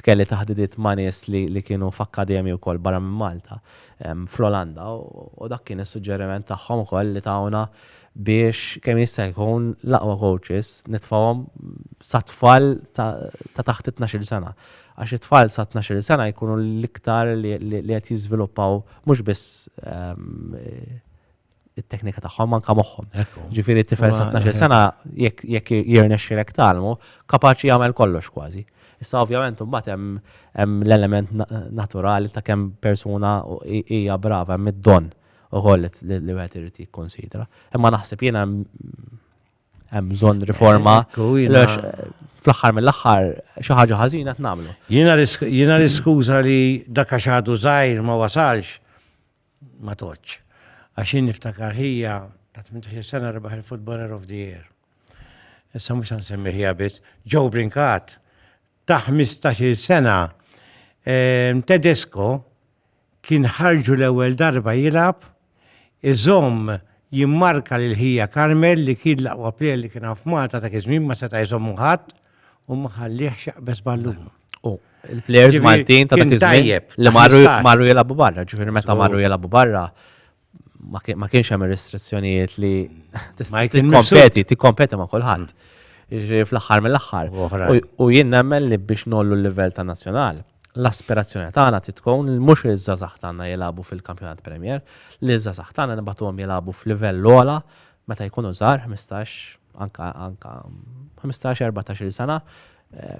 Kelli taħdidiet ma' nies li kienu f'akkademji wkoll barra minn Malta, fl-Olanda, u dak kien is-suġġeriment tagħhom ukoll li tawna biex kemm jista' jkun l-aqwa kowċis nitfgħuhom sat-tfal ta' taħt it-tnax-il sena. Għax it-tfal sa tnax-il sena jkunu l-iktar li qed jiżviluppaw mhux biss it-teknika tagħhom anka moħħhom. Ġifieri t-tifel sa 12 sena jekk jirnexxilek talmu, kapaċi jagħmel kollox kważi. Issa ovvjament imbagħad hemm l-element naturali ta' kemm persuna hija brava hemm id-don ukoll li wieħed irid jikkonsidra. Imma naħseb jiena hemm bżonn riforma. Fl-aħħar mill-aħħar xi ħaġa ħażina tnagħmlu. Jiena l-iskuża li dak għax għadu żgħir ma wasalx ma tgħoddx. Għax jien niftakar ħija ta' tmintax-il sena rebaħ il-Footballer of the Year. Issa mhux se nsemmi ħija biss. Joe Brincat ta' ħmistax-il sena ehm, Tedesco kien ħarġu l-ewwel darba jilgħab iżomm jimmarka lil ħija Carmel li kien l-aqwa plejer li kien hawn f'Malta dak iż-żmien ma seta' jżommu ħadd. u ma ħallih xaqbeż ballun. U l-plejers Ġifieri, Maltin ta' kien dak iż-żmien tajjeb, li marru taħsar. marru jilagħbu barra, ġifieri meta Żgur. marru jilagħbu barra ma kien- ma kienx hemm ir-restrizzjonijiet li Ma jkun tikkompeti, tikkompeti ma' kulħadd. Ġifieri fl-aħħar mill-aħħar. U oħrajn. U- U jien nemmen li biex ngħollu l-livell tan-nazzjonal, l-aspirazzjoni tagħna trid tkun li mhux iż-żgħażagħ tagħna jilagħbu fil-Kampjonat Premier, li ż-żgħażagħ tagħna nibagħtuhom jilagħbu f'livell ogħla meta jkunu żgħar, ħmistax, anke anke ħmistax, erbatax-il sena,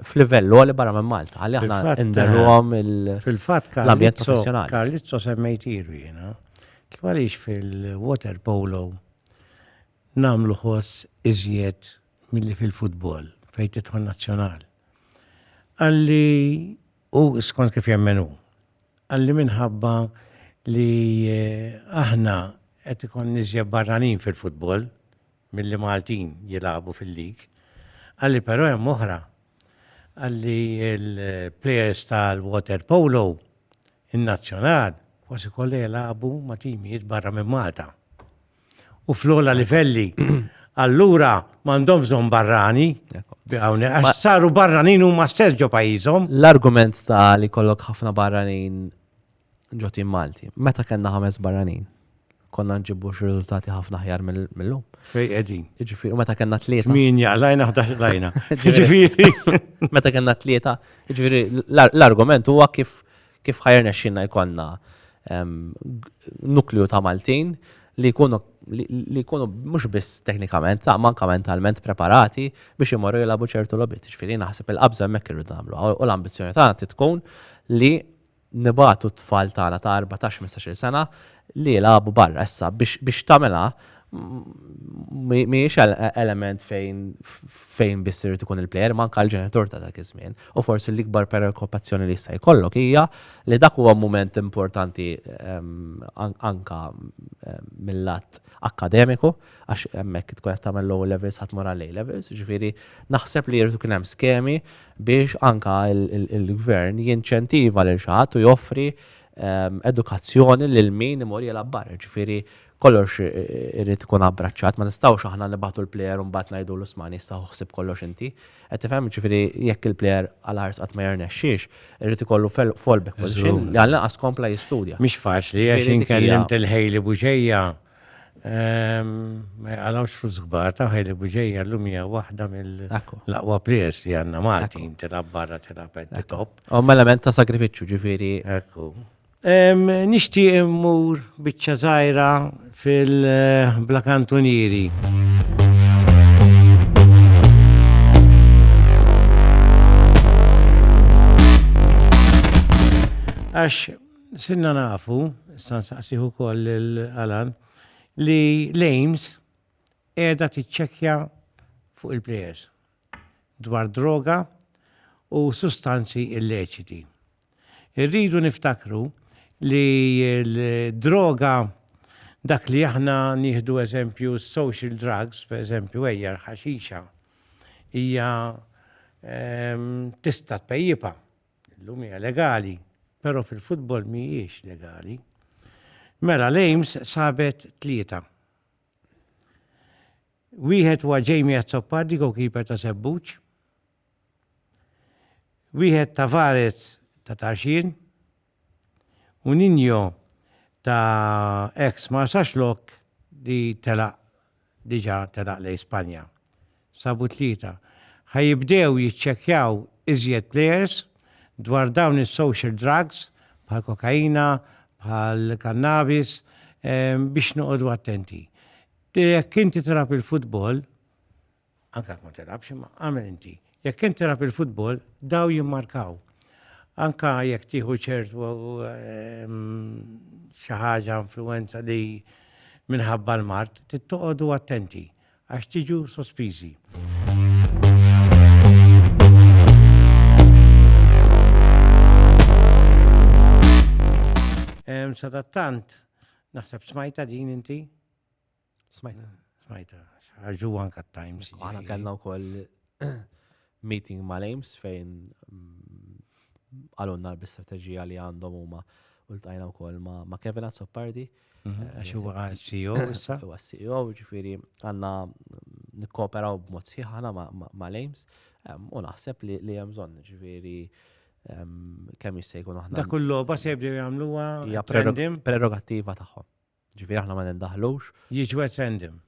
f'livell għoli barra minn Malta, ħalli aħna nderruhom l-ambjent professjonali. Karlizzo semmejtilu jiena, kif għaliex fil-water polo nagħmlu ħoss iżjed milli fil-futbol fejn tidħol nazzjonal. Qalli u skont kif jemmen hu. Qalli minħabba li aħna qed ikollna iżjed barranin fil-futbol milli Maltin jilagħbu fil-league. Qalli però hemm oħra. Qalli l-players tal-water polo, in-nazzjonal, kważi kollha jilagħbu ma' timijiet barra minn Malta. u fl-ogħla livelli, allura m'għandhom bżonn barrani, għax saru barranin huma stess ġo pajjiżhom. L-argument ta' li kollok ħafna barranin ġotin Malti, meta kellna ħames barranin, konna nġibu riżultati ħafna ħjar mill-lum. Fej qegħdin. Ġifieri, meta kellna tlieta. Min jaqlajna ħdax lajna. Ġifieri. Meta kellna tlieta, ġifieri l-argument huwa kif Kif ħa jirnexxilna jkollna nukleu ta' Maltin li jkunu li jkunu mhux biss teknikament imma anke mentalment preparati biex imorru jilagħbu ċertu logħbiet. Jiġifieri naħseb il-qabża hemmhekk irridu nagħmluha u l-ambizzjoni tagħna trid tkun li nibagħtu t-tfal tagħna ta' erbatax-ħmistax-il sena li jilagħbu barra issa biex biex tagħmilha mhijiex element fejn fejn biss irid ikun il-plejer imma anke l-ġenitur ta' dak iż-żmien u forsi l-ikbar preokkupazzjoni li jista' jkollok hija li dak huwa mument importanti anke mill-lat akkademiku għax hemmhekk tkun qed tagħmel l-O levels ħadd mur għall-A levels, ġifieri naħseb li jrid ikun hemm skemi biex anke l-gvern jinċentiva lil xi ħadd u joffri edukazzjoni lil min imur jilgħab barra, jiġifieri kollox irid ikun abbraċċat, ma nistgħux aħna nibagħtu l-plejer u mbagħad ngħidulu smani issa ħu ħsieb kollox inti. Qed tifhem? Jiġifieri jekk il-plejer għal ħarsha qatt ma jirnexxix, irid ikollu fallback position li għall-inqas kompla jistudja. Mhix faċli għax jien kellimt il-Hailey Bugeja. Ma jgħalawx flus kbar, ta' ħajli buġeja l-lum hija waħda mill-laqwa players li għanna Malti, tilab barra tilab at the top. U element ta' sagrifiċċju ġifieri. Ekku. Nixti immur biċċa żgħira fil-Bla Kantunieri. Għax Sirna nafu, issa nsaqsih ukoll lil Alan, li l-Aims qiegħda tiċċekkja fuq il-plejers dwar droga u sustanzi illeċiti. Irridu niftakru li l-droga dak li aħna nieħdu eżempju social drugs, per eżempju ejja l-ħaxixa, hija ehm, tista' tpejjipa, Illum hija legali, però fil-futbol mhijiex legali. Mela l-Ames sabet tlieta. Wieħed huwa Jamie Azzopardi goalkeeper ta' Sebbuċ. Wieħed Tavares ta' Tarxien. U Ninjo ta' ex Marsaxlok li telaq diġà telaq lejn Spanja. Sabu t-Tlieta, ħa jibdew jiċċekkjaw iżjed plejers dwar dawn is-social drugs bħall-kokaina, bħall-kannabis, biex noqogħdu attenti. Jekk inti tilgħab il-futbol, anke jekk ma tilgħabx imma għamel inti. Jekk kien tilgħab il-futbol, daw jimmarkaw. Anka jekk tieħu ċertu ehm, xi ħaġa influenza li minħabba l-mart, tittoqodu attenti għax tiġu sospiżi. Ehm, sadattant, naħseb smajta din inti? Smajta. Smajta, ħarġu anka t-Times. Għana kellna u koll meeting ma' l-Ames fejn mm, għalunna l-bistrategija li għandhom huma u l-tajna u koll ma' Kevin Azzopardi. Mhm, eh, għax huwa CEO issa. Huwa CEO, ġifiri għanna nikkooperaw b'mod sħiħana ma' l-Ames u naħseb li hemm bżonn ġifiri kemm jista' jkun aħna. Dak il-logħba se jibdew jagħmluha prerogattiva tagħhom. Ġifieri aħna ma nindaħlux. Jiġu referendum.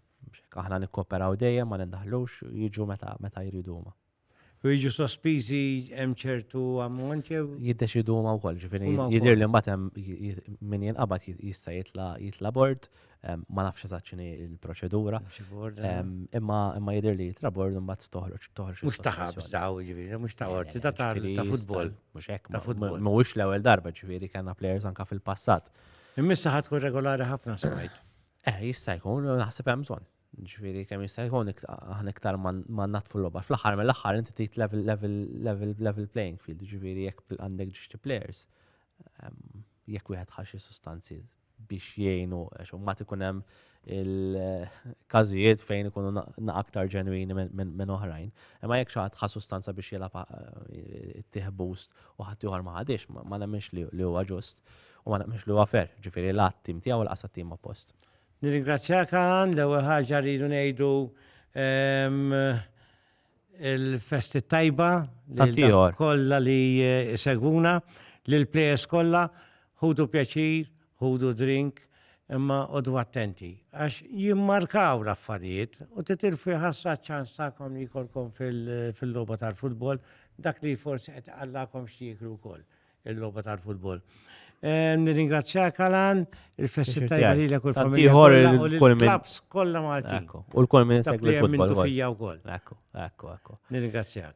Aħna nikkooperaw dejjem ma nindaħlux, jiġu meta meta jridu huma. U jiġu sospiżi hemm ċertu ammont jew? Jiddeċidu huma wkoll, ġifieri jidher li mbagħad hemm min jinqabad jista' jitla' jitla' bord, ma nafx eżatt x'inhi l-proċedura. Imma imma jidher li jitla' bord u mbagħad toħroġ toħroġ. Mhux ta' ħabs daw, jiġifieri, mhux ta' qorti, ta' ta' futbol. Mhux hekk, mhuwiex l-ewwel darba, ġifieri kellna players anke fil-passat Immissa ħad tkun regolari ħafna smajt. Eh, jista' jkun, naħseb hemm bżonn. Ġifieri kemm jista' jkun aħna iktar ma natfu l-logħba. Fl-aħħar mill-aħħar inti trid level level level level playing field, ġifieri jekk għandek ġiġti players, ehm, jekk wieħed ħaxi sustanzi biex jgħinu, għax ma tkun hemm il-każijiet fejn ikunu na aktar ġenwini minn oħrajn. Imma jekk xi ħadd ħa sustanza biex jilgħab eh, ittieħ boost u ħadd ieħor ma ħadix, ma nemminx li huwa ġust u ma nemminx li huwa fair, ġifieri l-għadd tim tiegħu u l-qasat tim oppost. Nirringrazzjak għan l-ewwel ħaġa rridu ngħidu ehm, Il-festi tajba li kollha li segwuna, lil plejers kollha, ħudu pjaċir, ħudu drink, imma qogħdu attenti għax jimmarkaw l-affarijiet u titilfu jħassra ċ-ċans tagħkom li jkollkom fil-logħba tal-futbol dak li forsi qed iqallagħkom x'tieklu wkoll. il-logħba tal-futbol. Eh, nirringrazzjak Alan, il-festi tajba li l-ek u l-familja u l-klaps kolla Malti. U l-kol minn segwi l-futbol. U fija u kol. Ekku, ekku, ekku. Nirringrazzjak.